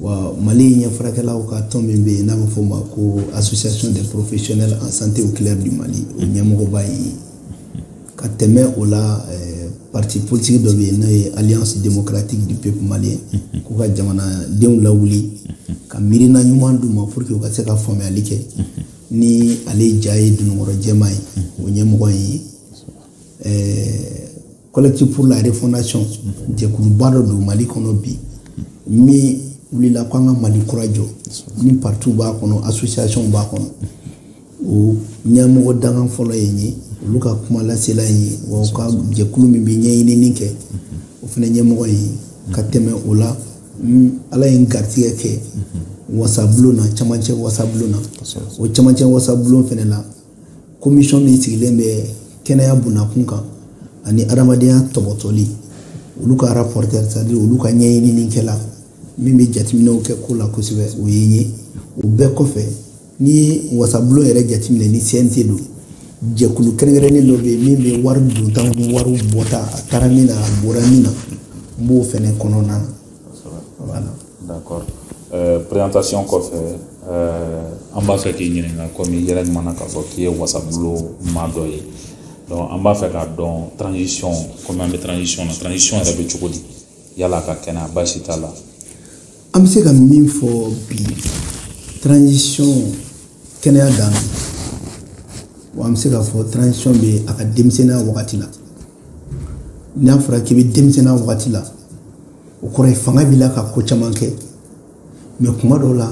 wa mali ɲɛ furakɛlaw ka tɔn min bɛ yen n'a bɛ fɔ o ma ko association des professionnels en santé oculaire du mali o ɲɛmɔgɔba ye ka tɛmɛ o la eh, parti politique dɔ bɛ yen n'o ye alliance démocratique du peuple malien k'u ka jamanadenw lawuli ka miirina ɲuman d'u ma pour que u ka se ka faamuyali kɛ ni ale ja ye dununkɔrɔ jɛman ye o ɲɛmɔgɔ ye n ye Collectif pour la refondation jɛkuluba dɔ don Mali kɔnɔ bi min wulila ko an ka Mali kura jɔ ni parti b'a kɔnɔ association b'a kɔnɔ o ɲɛmɔgɔ dankan fɔlɔ ye n ye olu ka kumalasela n ye wa u ka jɛkulu min bɛ ɲɛɲinini kɛ o fana ɲɛmɔgɔ ye ka tɛmɛ o la ala ye n garisigɛ kɛ wasabulon na camancɛ wasabulon na o camancɛ wasabulon fana la komisɔn min sigilen bɛ kɛnɛya bonna kunkan ani adamadenya tɔpɔtɔli olu ka rapporteur c'est-à-dire olu ka ɲɛɲininikɛla min bɛ jateminɛw kɛ ko la kosɛbɛ o ye n ye o bɛɛ kɔfɛ n'i ye wasabulon yɛrɛ jateminɛ ni cnt don jɛkulu kɛrɛnkɛrɛnnen dɔ bɛ yen min bɛ wari donta ni wari bɔta a taara min na a bɔra min na n b'o fɛnɛ kɔnɔna na d'accord euh, présentation kɔfɛ euh, an b'a fɛ k'i ɲininka komi i yɛrɛ kumana k'a fɔ k'i ye wasabulon maa dɔ ye donc an b'a fɛ k'a dɔn transition komi an bɛ transition na transition yɛrɛ bɛ cogo di yala a ka kɛnɛ a baasi t'a la an bɛ se ka min fɔ bi transition kɛnɛya dan wa an bɛ se k'a fɔ transition bɛ a ka denmisɛnninya wagati la n'a fɔra k'i bɛ denmisɛnninya wagati la o kɔrɔ ye fanga b'i la ka ko caman kɛ mais kuma dɔw la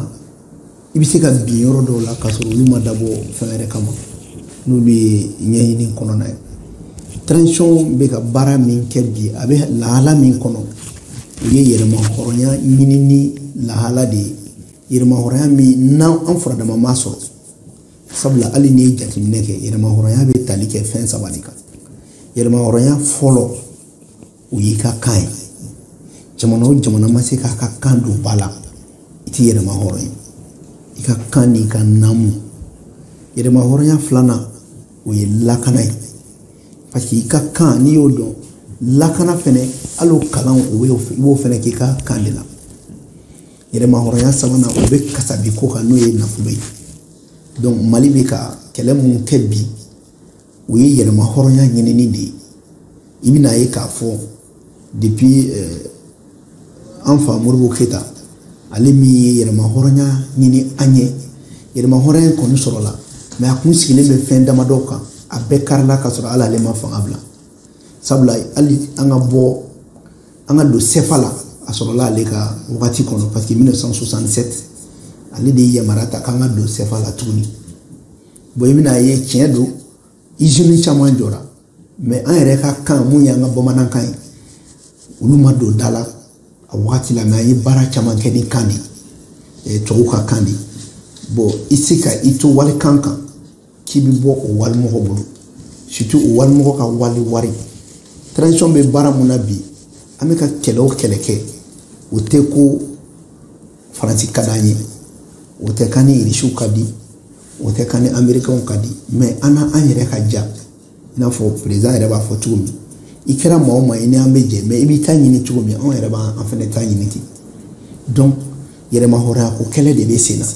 i bɛ se ka bin yɔrɔ dɔw la k'a sɔrɔ olu ma dabɔ fɛn wɛrɛ kama n'olu ye ɲɛɲini kɔnɔna ye transition bɛ ka baara min kɛ bi a bɛ lahala min kɔnɔ o ye yɛrɛmahɔrɔnya ɲinini lahala de ye yɛrɛmahɔrɔnya min n'an an furadama ma sɔrɔ sabula hali n'i ye jateminɛ kɛ yɛrɛmahɔrɔnya bɛ tali kɛ fɛn saba de kan yɛrɛmahɔrɔnya fɔlɔ o y'i ka kan ye jamana o jamana ma se k'a ka kan don ba la i tɛ yɛrɛmahɔrɔn ye i ka kan n'i ka naamu yɛrɛmahɔrɔnya filanan o ye lakana ye parce que i ka kan n'i y'o dɔn lakana fɛnɛ hali o kalan o bɛ i b'o fɛnɛ k'i ka kan de la yɛrɛmahɔrɔnya sabanan o bɛ kasabi ko kan n'o ye nafolo ye donc mali bɛ ka kɛlɛ minnu kɛ bi o ye yɛrɛmahɔrɔnya ɲinini de ye i bɛna ye k'a fɔ depuis euh, an fa modibo keita ale min ye yɛrɛmahɔrɔnya ɲini an ye yɛrɛmahɔrɔnya kɔni sɔrɔla mais a tun sigilen bɛ fɛn damadɔ kan a bɛɛ karila ka sɔrɔ hali ale ma fanga bila sabula hali an ka bɔ an ka don sefa la a sɔrɔla ale ka wagati kɔnɔ parce que 1967 ale de ye yamaruya ta k'an ka don sefa la tuguni bon i bɛn'a ye tiɲɛ don izini caman jɔra mɛ an yɛrɛ ka kan mun y'an ka bamanankan ye olu ma don da la a wagati la mɛ an ye baara caman kɛ ni kan de ye tubabu ka kan de ye bon i se ka i to walikan kan k'i bɛ bɔ o walimɔgɔ bolo surtout o walimɔgɔ ka wali wari transition bɛ baara mun na bi an bɛ ka kɛlɛ o kɛlɛ kɛ o tɛ ko faransi ka d'an ye o tɛ k'an ni irisiw ka di o tɛ k'an ni amerikɛnw ka di mɛ an n'an yɛrɛ ka diya i n'a fɔ perezidan yɛrɛ b'a fɔ cogo min i kɛra maa o maa ye ni an bɛ jɛ mɛ i b'i ta ɲini cogo min anw yɛrɛ b'an fana ta ɲini ten donc yɛrɛmahɔrɔnya ko kɛlɛ de bɛ sen na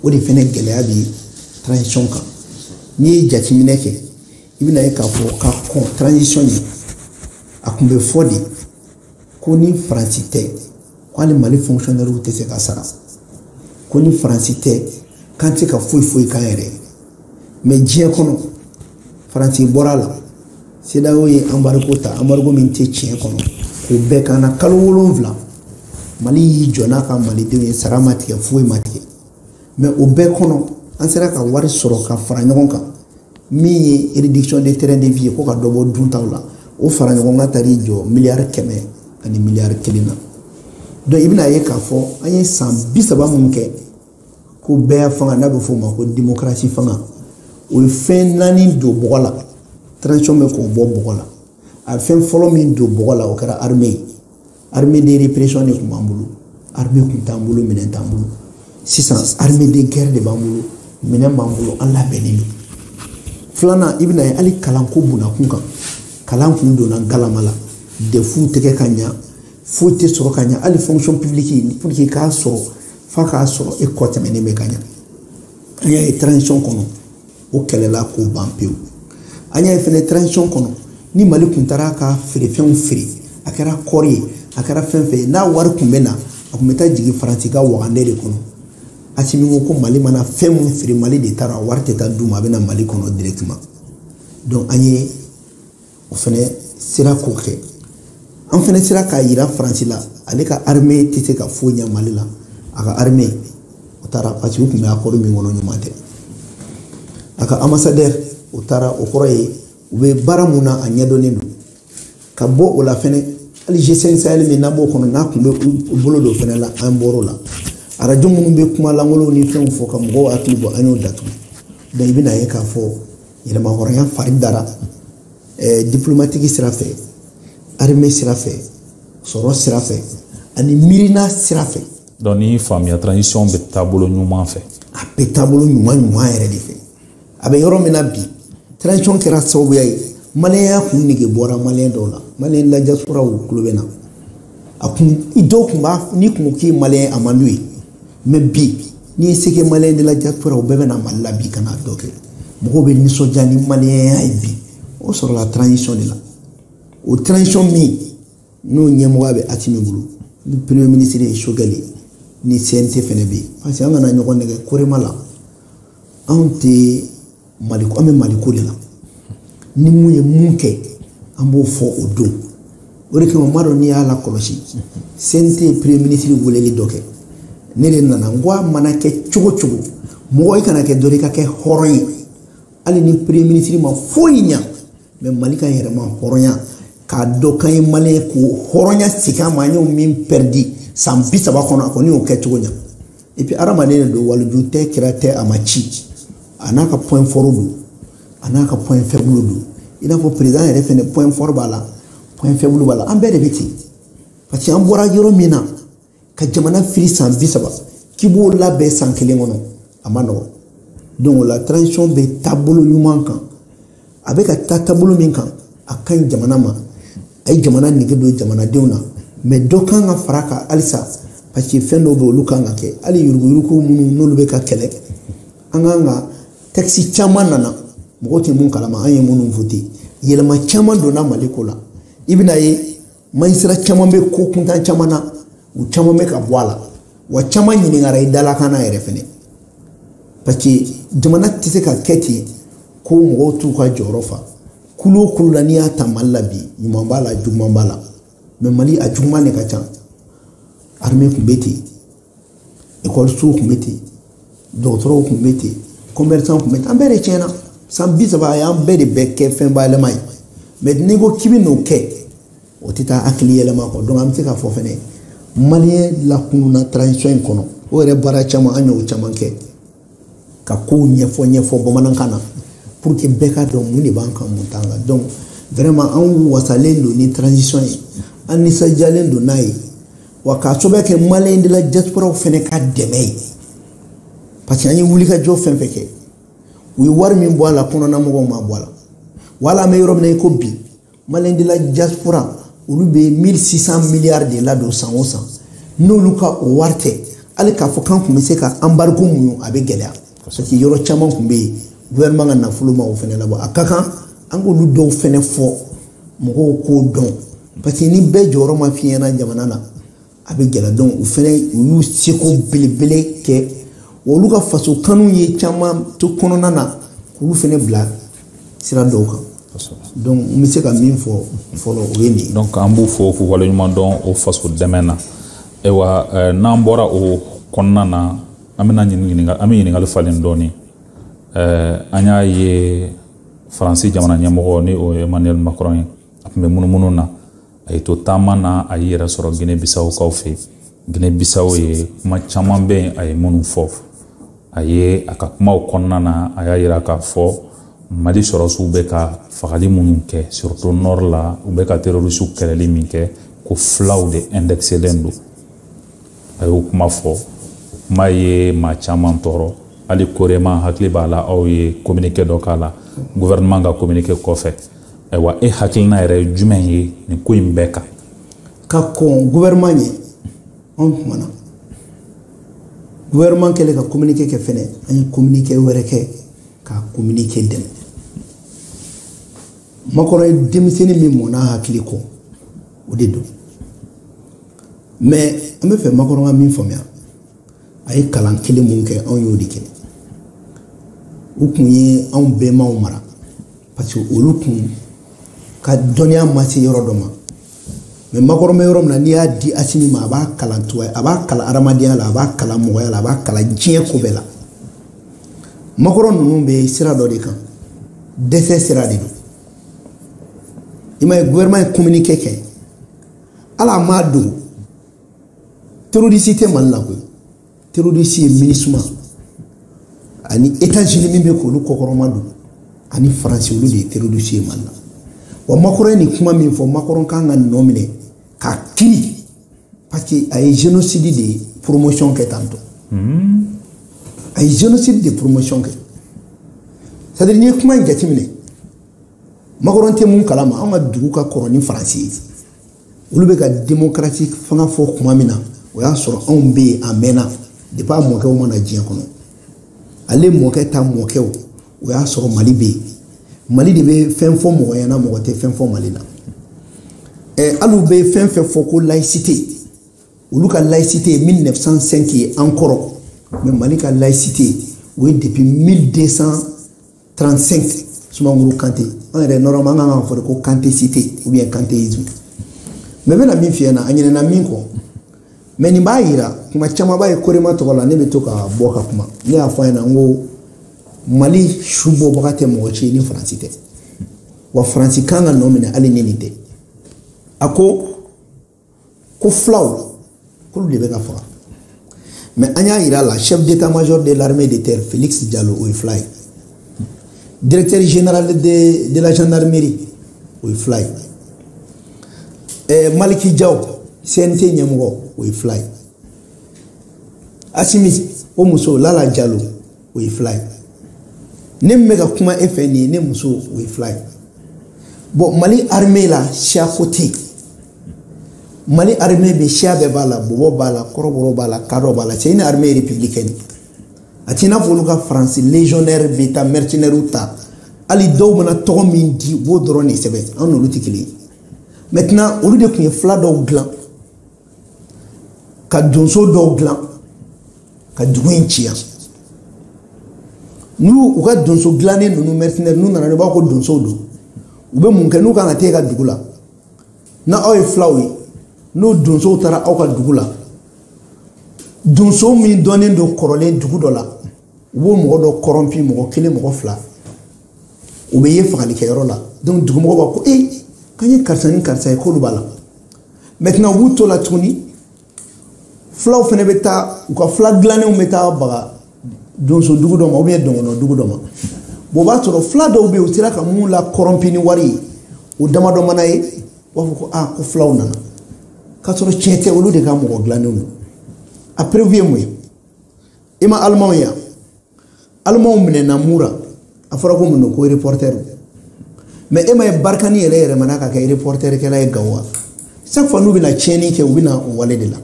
o de fana gɛlɛya bɛ transition kan n'i ye jateminɛ kɛ i bɛn'a ye k'a fɔ ka kɔn transition ɲɛ a tun bɛ fɔ de ko ni faransi tɛ ko hali mali fonkisiyɔnɛriw tɛ se ka sara ko ni faransi tɛ k'an tɛ se ka foyi foyi k'an yɛrɛ ma diɲɛ kɔnɔ faransi bɔra a la sedawo ye anbariko ta anbariko min tɛ tiɲɛ kɔnɔ k'o bɛɛ k'an na kalo wolonfila mali y'i jɔ n'a ka malidenw ye sara ma tigɛ foyi ma tigɛ mɛ o bɛɛ kɔnɔ an sera ka wari sɔrɔ ka fara ɲɔgɔn kan min ye réduction de train de vie ye ko ka dɔ bɔ duntaw la o fara ɲɔgɔn kan taar'i jɔ miliyari kɛmɛ ani miliyari kelen na donc i bɛn'a ye k'a fɔ an ye san bi saba mun kɛ ko bɛɛ fanga n'a bɛ f'o ma ko démocratie fanga o ye fɛn naani don bɔgɔ la transition bɛ k'o bɔ bɔgɔ la a fɛn fɔlɔ min don bɔgɔ la o kɛra armée ye armée de répression de tun b'an bolo armée tun t'an bolo minɛn t'an bolo sisan armée de guerre de b'an bolo minɛn b'an bolo an labɛnnen don filanan i bɛn'a ye hali kalanko bunda kun kan kalan kun donna galama la defuw tɛ kɛ ka ɲa foyi tɛ sɔrɔ ka ɲa hali fonction publique pour que k'a sɔrɔ f'a k'a sɔrɔ e kɔ sɛmɛnen bɛ ka ɲa an y'a ye transition kɔnɔ o kɛlɛla k'o ban pewu an y'a ye fɛnɛ transition kɔnɔ ni mali kun taara ka feerefɛnw feere a kɛra kɔɔri ye a kɛra fɛn fɛn ye n'a wari kun bɛ na a kun bɛ taa jigin faransi ka wagande de kɔnɔ asimi ko ko mali mana fɛn mun feere mali de taara wari tɛ taa d'u ma a bɛ na mali kɔnɔ directement donc an ye o fana sera k'o kɛ an fana sera k'a yira faransi la ale ka armée tɛ se ka foyi ɲɛ mali la a ka armée o taara parce que u tun bɛ akɔri min kɔnɔ ɲuman tɛ a ka ambassadeur o taara o kɔrɔ ye u bɛ baara mun na a ɲɛdɔnnen don ka bɔ o la fɛnɛ hali g5 sahel min n'an b'o kɔnɔ n'a tun bɛ u bolo don fɛnɛ la an bɔr'o la arajo minnu bɛ kuma lankolonw ni fɛnw fɔ ka mɔgɔw hakili bɔ an y'o datugu donc i bɛn'a ye k'a fɔ yɛrɛmahɔrɔnya fari dara eh, diplomatiki sira fɛ arime sira fɛ sɔrɔ sira fɛ ani miirina sira fɛ donc ni faamuya transition bɛ taabolo ɲuman fɛ a bɛ taabolo ɲuman ɲuman yɛrɛ de fɛ an bɛ yɔrɔ min na bi transition kɛra sababuya ye maliyɛnya kun nege bɔra maliyɛn dɔw la maliyɛn la diasporaw kulu bɛ na a kun dɔw kun b'a n'i kun ko k'i ye maliyɛn a man d'u ye mɛ bi n'i ye seke maliyɛn de la diaspora u bɛɛ bɛ na mali la bi ka n'a dɔ kɛ mɔgɔw bɛ nisɔndiya ni maliyɛnya ye bi o sɔrɔla transition de la o transition min n'o ɲɛmɔgɔya bɛ asimi bolo ni premier ministre ye sogɛli ye ni cnt fɛnɛ bɛ yen parce que an kana ɲɔgɔn nɛgɛn korema la anw tɛ mali an bɛ maliko de la ni min ye min kɛ an b'o fɔ o don o de kama n m'a dɔn n'i y'a lakɔlɔsi cnt ye premier ministre weleli dɔ kɛ ne de nana n ko a mana kɛ cogo o cogo mɔgɔ i kana kɛ jɔn i ka kɛ hɔrɔn ye hali ni premier ministre ma foyi ɲa mɛ mali ka yɛrɛmahɔrɔnya k'a dɔn k'an ye maliyɛn ye k'o hɔrɔnya segin an ma an y'o min pɛridi san bi saba kɔnɔ a kɔni y'o kɛ cogo ɲa Et puis hadamaden de don waliju tɛ kira tɛ a ma ci a n'a ka point fort don a n'a ka point faible don i n'a fɔ président yɛrɛ fana point fort b'a la point faible b'a la an bɛɛ de bɛ ten parce que an bɔra yɔrɔ min na ka jamana fili san bi saba k'i b'o labɛn san kelen kɔnɔ a man nɔgɔn donc o la transition bɛ taabolo ɲuman kan a bɛ ka taa taabolo min kan a ka ɲi jamana ma a ye jamana nege don jamanadenw na mɛ dɔ kan ka fara a kan halisa parce que fɛn dɔw bɛ olu kan ka kɛ hali yuruguyurugu minnu n'olu bɛ ka kɛlɛ an kan ka tɛkisi caman nana mɔgɔw tɛ min kalama an ye minnu vote yɛlɛma caman donna mali ko la i bɛna ye Majisira caman bɛ ko kuntan caman na u caman bɛ ka bɔ a la wa caman ɲininkara i dalakan na yɛrɛ fɛnɛ parce que jamana tɛ se ka kɛ ten ko mɔgɔw t'u ka jɔyɔrɔ fa kulu o kulu la n'i y'a ta mali la bi ɲuman b'a la juguman b'a la mɛ mali a juguman de ka ca armée tun bɛ ten ekɔlisow tun bɛ ten dɔgɔtɔrɔw tun bɛ ten kɔmɛrisanw tun bɛ ten an bɛɛ de tiɲɛna san bi saba a y'an bɛɛ de bɛɛ kɛ fɛn bayɛlɛma ye mɛ n'i ko k'i bɛn'o kɛ o tɛ taa hakili yɛlɛma kɔ dɔnku an bɛ se k'a fɔ fɛnɛ maliyɛn lakununna transition in kɔnɔ o yɛrɛ baara caman an y'o caman kɛ ka kow ɲɛfɔ ɲɛfɔ bamanankan na pour que bɛɛ k'a dɔn mun de b'an kan mun t'an kan donc vraiment anw wasalen don ni transition ye an nisɔndiyalen don n'a ye wa k'a sababu kɛ maliyɛn de la diasporaw fana ka dɛmɛ ye parce que an ye wulikajɔ fɛn o fɛn kɛ u ye wari min bɔ a la kɔnɔna mɔgɔw m'a bɔ a la wala an bɛ yɔrɔ min na i ko bi maliens de la diaspora olu bɛ 1600 miliyari de ladon san o san n'olu ka o wari tɛ hali k'a fɔ k'an tun bɛ se ka embargo muɲu a bɛ gɛlɛya parce que yɔrɔ caman tun bɛ yen gouvernement ka nafolo ma o fana labɔ a ka kan an k'olu dɔw fana fɔ mɔgɔw k'o dɔn parce que ni bɛɛ jɔyɔrɔ ma fiɲɛna jamana na a bɛ gɛlɛya donc u fɛnɛ u y'u seko belebele kɛ wa olu ka faso kanu ye caman to kɔnɔna na k'olu fɛnɛ bila sira dɔw kan donc n bɛ se ka min fɔ fɔlɔ o ye nin ye donc an b'u fo k'u waleɲuman dɔn o faso dɛmɛ na ayiwa eh, n'an bɔra o kɔnɔna na an bɛna ɲininka an bɛ ɲininkali falen dɔɔnin eh, an y'a ye faransi jamana ɲɛmɔgɔ ni o ye emmanuel macron ye a tun bɛ munumunu na a y'i to taama na a y'i yɛrɛ sɔrɔ gine bisawo kaw fɛ gine bisawo yen kuma caman bɛ yen a ye minnu fɔ a ye a ka kumaw kɔnɔna na a y'a yira k'a fɔ mali sɔrɔdasiw bɛ ka fagali minnu kɛ surtout nord la u bɛ ka terrorisiw kɛlɛli min kɛ ko fulaw de indexelen don a y'o kuma fɔ kuma ye maa caman tɔɔrɔ hali korema hakili b'a la aw ye communiqué dɔ k'a la gouvernement ka communiqué kɔfɛ ayiwa e hakilina yɛrɛ ye jumɛn ye nin ko in bɛɛ kan ka kɔn gouvernement ɲɛ anw kumana gouvernement kɛlen ka communiqué kɛ fɛnɛ an ye communiqué wɛrɛ kɛ ka communiqué dɛmɛ macron ye denmisɛnnin min mɔn'a hakili kɔ o de don mais an bɛ fɛ macron ka min faamuya a ye kalan kelen min kɛ anw y'o de kɛ u kun ye anw bɛnbaw mara parce que olu kun ka dɔnniya ma se yɔrɔ dɔ ma mais macron bɛ yɔrɔ min na n'i y'a di asimi ma a b'a kalan tuya a b'a kalan adamadenya la a b'a kalan mɔgɔya la a b'a kalan diɲɛ ko bɛɛ la macron ninnu bɛ sira dɔ de kan dɛsɛ sira de don i m'a ye gouvernement ye communiqué kɛ hali a m'a don terroriste tɛ mali la koyi terroriste ye minusma ani états-unis min bɛ k'olu kɔkɔrɔma don ani faransi olu de ye terroriste ye mali la wa macron ye nin kuma min fɔ macron kan ka nɔ minɛ k'a kiri parce que a ye génocide de promotion kɛ tantɔ hmm. a ye génocide de promotion kɛ c'est à dire n'i ye kuma in jateminɛ macron tɛ min kalama an ka dugu ka kɔrɔ ni faransi ye olu bɛ ka demokarasi fanga fɔ tuma min na o y'a sɔrɔ anw bɛ yen a mɛnna depuis a mɔkɛw ma na diɲɛ kɔnɔ ale mɔkɛ ta mɔkɛw o y'a sɔrɔ mali bɛ yen mali de bɛ fɛn fɔ mɔgɔ ɲɛna mɔgɔ tɛ fɛn fɔ mali la ɛ hali u bɛ fɛn fɛn fɔ ko laïcité olu ka laïcité ye 1905 ye an kɔrɔ mais mali ka laïcité o ye depuis 1200 35 sumaworo kante an yɛrɛ nɔrɔma an kan ka fɔ de ko kante site ubiyɛn kante izmi mɛ bɛna min fiyɛ na a ɲinɛna min kɔ mɛ nin b'a yira kuma caman bɛ yen korema tɔgɔ la ne bɛ to ka bɔ ka kuma ne y'a fɔ a ɲɛna n ko mali su bɔbaga tɛ mɔgɔ si ni faransi tɛ wa faransi kan ka nɔ minɛ hali ni nin tɛ a ko ko fulaw k'olu de bɛ ka faga mɛ an y'a yira a la chef d'état major de l'armée de terre félix jalo o ye fula ye directeur général de, de la gendarmerie o ye fula ye eh, maliki jaw cnt ɲɛmɔgɔ o ye fula ye asimi o muso lala jalo o ye fula ye ne min bɛ ka kuma e fɛ nin ye ne muso o ye fula ye bɔn mali arime la siya ko tɛ yen mali arime bɛ siya bɛɛ b'a la bɔbɔ b'a la kɔrɔbɔrɔ b'a la kadɔ b'a la c'est une armée républicaine a t'i n'a fɔ olu ka faransi légionnaire bɛ taa mercenaires ta hali dɔw mana tɔgɔ min di u b'o dɔrɔn de sɛbɛn an n'olu tɛ kelen ye maintenant olu de tun ye fula dɔw dilan ka donso dɔw dilan ka dugu in ci yan n'u u ka donso dilannen ninnu mercenaires n'u nana ne b'a ko donsow don u bɛ mun kɛ n'u kan ka taa e ka dugu la na aw ye fulaw ye n'o donsow taara aw ka dugu la donso min dɔnnen don kɔrɔlen dugu dɔ la u b'o mɔgɔ dɔ kɔrɔnpi mɔgɔ kelen mɔgɔ fila u bɛ ye fagalikɛyɔrɔ la donc dugumɔgɔ b'a ko ee k'an ye karisa ni karisa ye k'olu b'a la maintenant u b'u to la tuguni fulaw fana bɛ taa u ka fula dilannenw bɛ taa baga donso dugu dɔ ma ubiyɛn dɔgɔnɔ dugu dɔ ma bon o b'a sɔrɔ fula dɔw bɛ yen u sera ka minnu kɔrɔnpi ni wari ye o damadɔ mana ye u b'a fɔ ko aa ko fulaw nana k'a sɔrɔ tiɲɛ tɛ olu de ka mɔgɔ dilannenw don a perewu ye mun ye i ma alimanw ye alimanw minɛna mura a fɔra ko mun don ko reportɛri mɛ i m'a ye barikani yɛrɛ yɛlɛmana ka kɛ reportɛrikɛla ye gawo wa chaque fois n'u bɛna tiɲɛni kɛ u bɛna o wale de la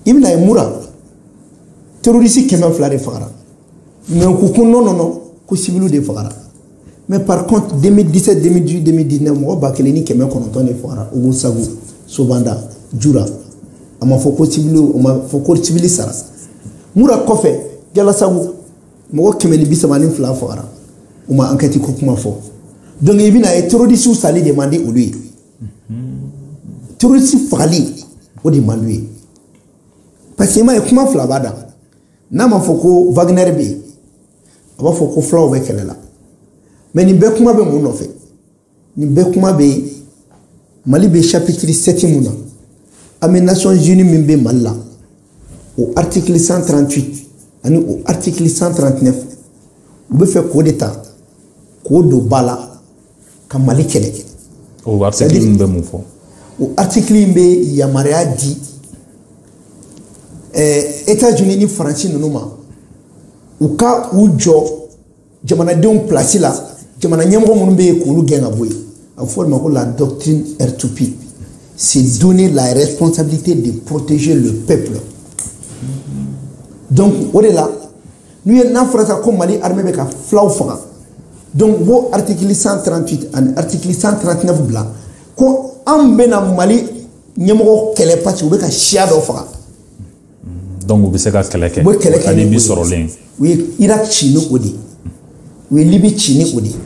i bɛn'a ye mura terorisi kɛmɛ fila de fagara mɛ u ko ko nɔn nɔn nɔn ko civili de fagara mais par contre 2017 2018 2019 mɔgɔ ba kelen ni kɛmɛ kɔnɔntɔn de fagara ogosagu sobanda jura a ma fɔ ko civili o ma fɔ ko civili sara mura kɔfɛ jalasagu mɔgɔ kɛmɛ ni bi saba ni fila fagara u ma ankɛti ko kuma fɔ donc i bɛn'a ye terrorisiw sali de man di olu ye terrorisi fagali o de man d'u ye parce que i m'a ye kuma fila b'a da n'a ma fɔ ko wagner bɛ yen a b'a fɔ ko fulaw bɛ kɛlɛ la mais nin bɛɛ kuma bɛ mun nɔfɛ nin bɛɛ kuma bɛ mali bɛ chapitre 7 min na an bɛ nations unies min bɛ mali la o article 138 ani o article 139 u bɛ fɛ k'o de ta k'o don ba la ka mali kɛlɛ kɛ o article in bɛ mun fɔ o article in bɛ yamaruya di eh, etats unis ni faransi ninnu ma u ka u jɔ jamanadenw pilasi la jamana ɲɛmɔgɔ minnu bɛ yen k'olu gɛn ka bɔ yen a bɛ fɔ o de ma ko la doctrine r2p c'est donner la responsabilité de protéger le peuple donc o de la n'u ye n'a fɔra sa ko mali armée bɛ ka fulaw faga donc u b'o article 138 ani article 139 bila ko an bɛna mali ɲɛmɔgɔ kɛlɛ parce que u bɛ ka siya dɔ faga donc u bɛ se ka kɛlɛ kɛ u bɛ kɛlɛ kɛ ni bi sɔrɔlen u ye irak ci ni o de ye u ye libi ci ni o de ye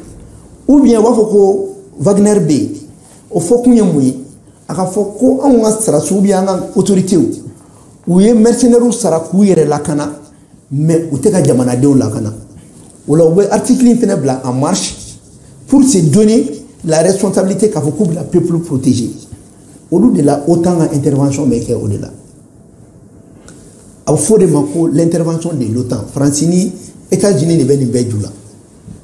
ou bien u b'a fɔ ko wagner bɛ yen o fɔkun ye mun ye a k'a fɔ ko anw ka sarasiw bɛ an ka autoritew u ye mercenaires sara k'u yɛrɛ lakana mais u tɛ ka jamanadenw lakana o la u bɛ article in fana bila en marche pour se donner la responsabilité k'a fɔ k'u bɛna peuple protéger olu de la OTAN ka intervention bɛ kɛ o de la a bɛ fɔ o de ma ko l'intervention de l'OTAN Faransi ni États-Unis de bɛ nin bɛɛ ju la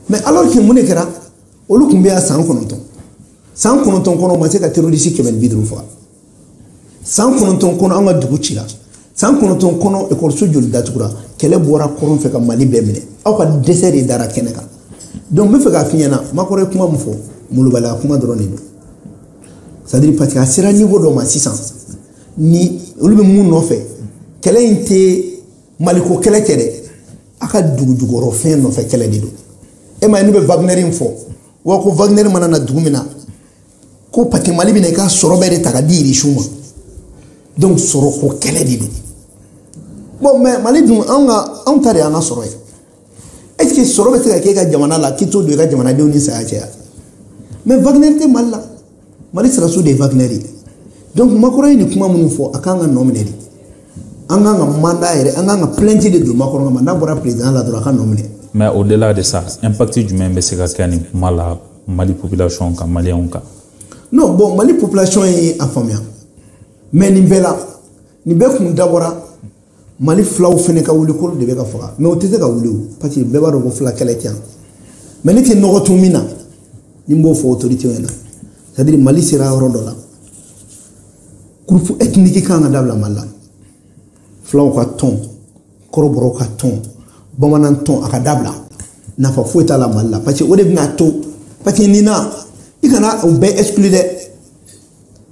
mais alors que mun de kɛra olu tun bɛ yan san kɔnɔntɔn san kɔnɔntɔn kɔnɔ u ma se ka terorisi kɛmɛ ni bi duuru faga san kɔnɔntɔn kɔnɔ an ka dugu cira san kɔnɔntɔn kɔnɔ ekɔliso joli datugura kɛlɛ bɔra kɔrɔn fɛ ka mali bɛɛ minɛ aw ka dɛsɛ de dara kɛnɛ kan donc n bɛ fɛ k'a f'i ɲɛna makɔrɔ ye kuma min fɔ malobaliya kuma dɔrɔn de don c'est-à-dire parce que a sera niveau dɔ ma sisan ni olu bɛ mun nɔfɛ kɛlɛ in tɛ maliko kɛlɛ tɛ dɛ an ka dugujukɔrɔ fɛn nɔfɛ kɛlɛ de don e m'a ye n'u bɛ wagner in fɔ wa ko wagner mana na dugu min na ko pati mali bɛna i ka sɔrɔ bɛɛ de ta k'a di irisiw ma donc sɔrɔ ko kɛlɛ de don bon mais mali dun anw ka anw ta de y'an ka sɔrɔ ye est ce que sɔrɔ bɛ se ka kɛ i ka jamana la k'i t'o don i ka jamanadenw ni saya cɛ wa mais wagner tɛ mali la mali sarasiw de ye wagner de ye donc makɔrɔ ye nin kuma minnu fɔ a kan ka nɔminɛ de an kan ka mandat yɛrɛ an kan ka plainte de don makɔrɔ kama n'a bɔra président la dɔrɔn a ka nɔminɛ mais au delà de ça impact jumɛn bɛ se ka kɛ nin kuma la mali population kan maliyɛnw kan non bon mali population ye a faamuya mais nin bɛɛ la nin bɛɛ kun dabɔra mali filaw fana ka wuli k'olu de bɛ ka faga mɛ o tɛ se ka wuli o parce que bɛɛ b'a dɔn ko fila kɛlɛ tɛ yan mɛ ne tɛ nɔgɔ tun min na ni n b'o fɔ otoritew ɲɛna c'est à dire mali sera yɔrɔ dɔ la groupe ethnique kan ka dabila mali la filaw ka tɔn kɔrɔbɔrɔw ka tɔn bamanan tɔn a ka dabila nafa foyi t'a la mali la parce que o de bɛn'a to parce que nin na i kana u bɛɛ exclu dɛ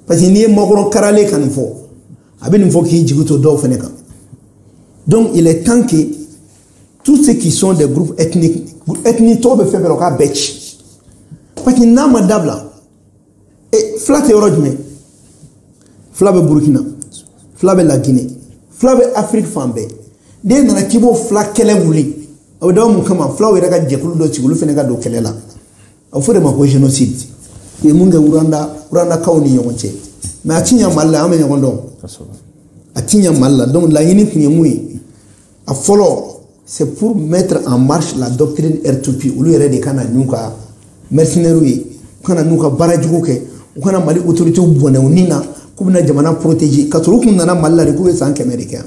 parce que n'i ye makɔrɔn karalen ka nin fɔ a bɛ nin fɔ k'i jigi to dɔw fana kan donc il est temps que tous ceux qui sont des groupes ethniques ethniques tɔgɔ bɛ fɛn fɛn na u k'a bɛɛ ci parce que n'a ma dabila e fila tɛ yɔrɔ jumɛn fila bɛ burukina fila bɛ lagine fila bɛ afiriki fan bɛɛ n'e nana k'i bɛ fila kɛlɛ wuli o bɛ dabɔ mun kama fulaw yɛrɛ ka jɛkulu dɔ sigi olu fana ka don kɛlɛ la. a bɛ fɔ o de ma ko génocide u ye mun kɛ ruwanda ruwandakaw ni ɲɔgɔn cɛ mɛ a ti ɲa mali la an bɛ ɲɔgɔn dɔn a ti ɲa mali la donc laɲini tun ye mun ye a fɔlɔ c'est pour mettre en marche la doctrine r2p olu yɛrɛ de ka na n'u ka mercenaires ye u ka na u ka baara jugu kɛ u ka na mali autorités bɔ yen u ni na k'u bɛna jamana protéger ka sɔrɔ u tun nana mali la de k'u bɛ san kɛmɛ de kɛ yan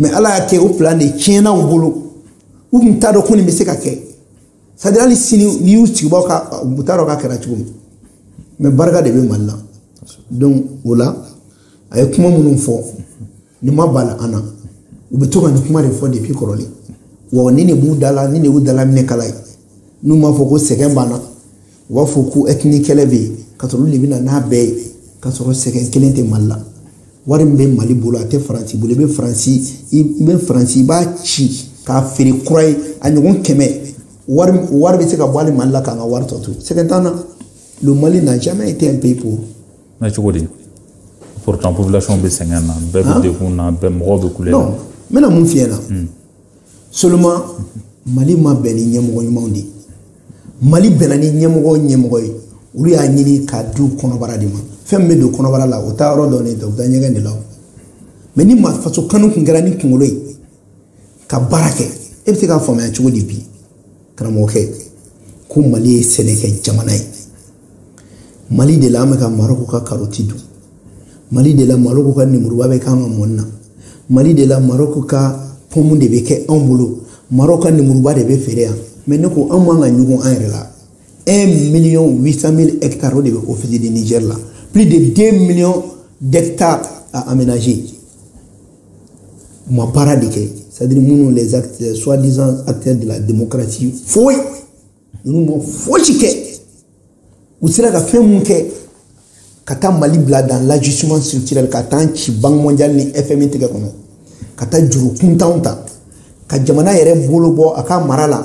mɛ ala y'a kɛ o plan de tiɲɛna u bolo u tun t'a dɔn ko nin bɛ se ka kɛ c'est à dire hali sini n'i y'u sigibaw ka u t'a dɔn k'a kɛra cogo min mɛ barika de bɛ mali la donc o la a ye kuma minnu fɔ nin ma bala an na u bɛ to ka nin kuma de fɔ depuis kɔrɔlen wa nin de b'u da la nin de y'u dala minɛ kala ye n'u m'a fɔ ko sɛgɛn b'an na u b'a fɔ ko ethnique kɛlɛ bɛ yen ka sɔrɔ olu de bɛ na n'a bɛɛ ye ka sɔrɔ sɛgɛn kelen tɛ mali la wari min bɛ mali bolo a tɛ faransi bolo i bɛ faransi i bɛ faransi i b'a ci k'a feere kura ye a ɲɔgɔn kɛmɛ wari wari bɛ se ka bɔ hali mali la k'an ka wari tɔ to sɛgɛn t'an na le mali n'a jamais été un pays pauvre. na cogo di pourtant population bɛ sɛgɛn na bɛɛ bɛ degun na bɛɛ mɔgɔw bɛ kulɛ na. non n bɛna mun f'i ɲɛna. seulement mali ma bɛn ni ɲɛmɔgɔ ɲumanw de ye mali bɛnna ni ɲɛmɔgɔ ɲɛmɔgɔ ye olu y'a ɲini k'a d'u kɔnɔbara de ma fɛn min bɛ don kɔnɔbara la o taa yɔrɔ dɔ de tɛ o bɛ taa ɲɛgɛn de la mɛ ni ma faso kanu kun kɛra ni kunkolo ye ka baara kɛ e bɛ se k'a faamuya cogo di bi karamɔgɔkɛ ko mali ye sɛnɛkɛ jamana ye mali de la an bɛ ka maroko ka karoti dun mali de la maroko ka nemuruba bɛ k'an ka mɔni na mali de la maroko ka pɔmu de bɛ kɛ anw bolo maroko ka nemuruba de bɛ feere yan mɛ ne ko an man ka ɲugun an yɛrɛ la 1 million 800 mille hectares o de bɛ office du niger la plus de 2 millions d'hectares à aménager u ma baara de kɛ c'est-à-dire minnu les acteurs soit disant acteurs de la démocratie foyi ninnu ma fosi kɛ u sera ka fɛn mun kɛ ka taa mali bila dans l'ajustement structurel ka t'an ci banque mondiale ni fmi tɛgɛ kɔnɔ ka taa juru kuntanw ta ka jamana yɛrɛ bolo bɔ a ka mara la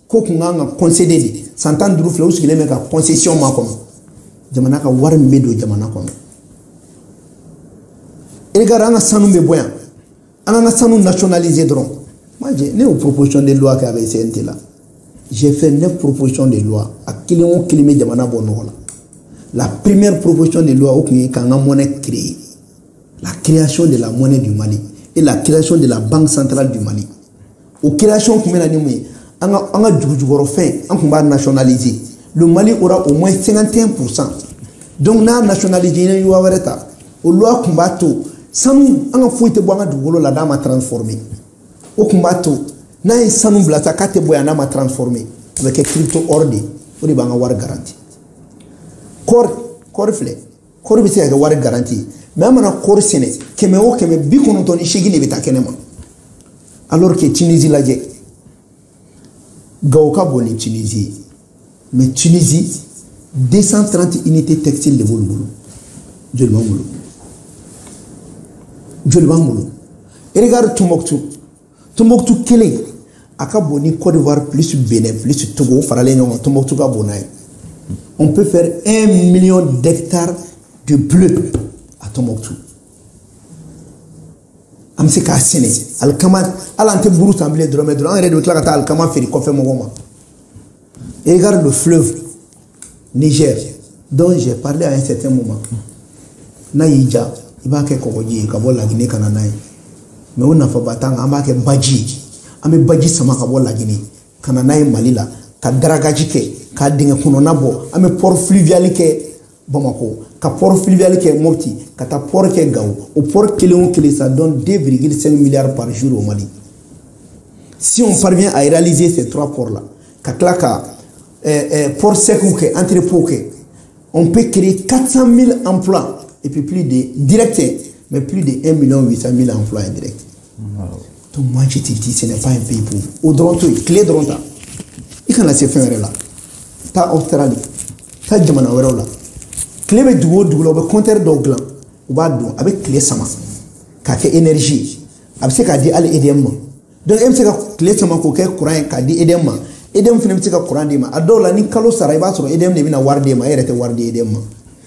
ko kun kan ka kɔnsede de san tan duuru filɛ u sigilen bɛ ka kɔnsesiyɔn ma kɔnɔ jamana ka wari min bɛ don jamana kɔnɔ regarde an ka sanu bɛ bɔ yan an k'an ka sanu nationaliser dɔrɔn maje ne y'o proposition de loi kɛ a bɛ cnt la j'ai fait neuf propositions de loi a kelen o kelen bɛ jamana bɔ nɔgɔ la la première proposition de loi o tun ye k'an ka monnaie créer la création de la monnaie du Mali et la création de la banque centrale du Mali o création tun bɛ na ni mun ye an ka an ka dugujukɔrɔfɛn an tun b'a nationaliser le Mali aura au moins 51 pour cent donc n'a nationaliser n ye loi wɛrɛ ta o loi tun b'a to sanu an ka foyi tɛ bɔ an ka dugukolo la n'a ma transformer o tun b'a to n'an ye sanu bila sa k'a tɛ bɔ yan n'a ma transformer a bɛ kɛ crypto or de ye o de b'an ka wari garanti kɔɔri kɔɔri filɛ kɔɔri bɛ se ka kɛ wari garanti ye mais an mana kɔɔri sɛnɛ kɛmɛ o kɛmɛ bi kɔnɔntɔn ni seegin de bɛ taa kɛnɛ ma alors que tunisi lajɛ gawo ka bon ni tunisi ye mais tunisi 230 unité textile de b'olu bolo joli b'an bolo joli b'an bolo regarde tumbuktu Totu kelen a ka bon ni kɔdiwa psi bɛn psi togo faralen ɲɔgɔn kan totu ka bon n'a ye n bɛ fɛ e miy deta de bulon a totu an bɛ se k'a sɛnɛ ali kama ala an tɛ buru san bilen dɔrɔnmɛ dɔrɔn an yɛrɛ de tila ka taa ali kama feere kɔfɛ mɔgɔw ma e gari don fi Niger dont j'ai parlé à un certain moment n'a y'i diya i b'a kɛ kɔgɔji ye ka bɔ lagine ka na n'a ye mais o nafaba t'an kan an b'a kɛ baji ye an bɛ baji sama ka bɔ lagine ka na n'a ye mali la ka dragage kɛ ka dingɛ kɔnɔna bɔ an bɛ port fluvial kɛ bamakɔ ka port fluvial kɛ mopti ka taa port kɛ gawo o port kelen o kelen ça donne 2,5 milliards par jour au mali si on parvient à réaliser ces trois ports là ka tila ka euh, port sekiw kɛ entrepôt kɛ on peut créer 400 000 emplois et puis plus de direct mais plus de 1 million 800 000 emplois indirect donc moi je te dis ce n'est pas un pays pauvre o dɔrɔn to yen tile dɔrɔn ta i kana se fɛn wɛrɛ la taa australie taa jamana wɛrɛw la tile bɛ dugu o dugu la u bɛ compteur dɔw dilan u b'a dɔn a bɛ tile sama k'a kɛ énergie a bɛ se k'a di hali edm ma donc e bɛ se ka tile sama k'o kɛ kuran ye k'a di edɛmu ma edɛmu fana bɛ se ka kuran d'i ma a dɔw la ni kalo sara i b'a sɔrɔ edɛmu de bɛna wari d'e ma e yɛrɛ tɛ wari di edɛmu ma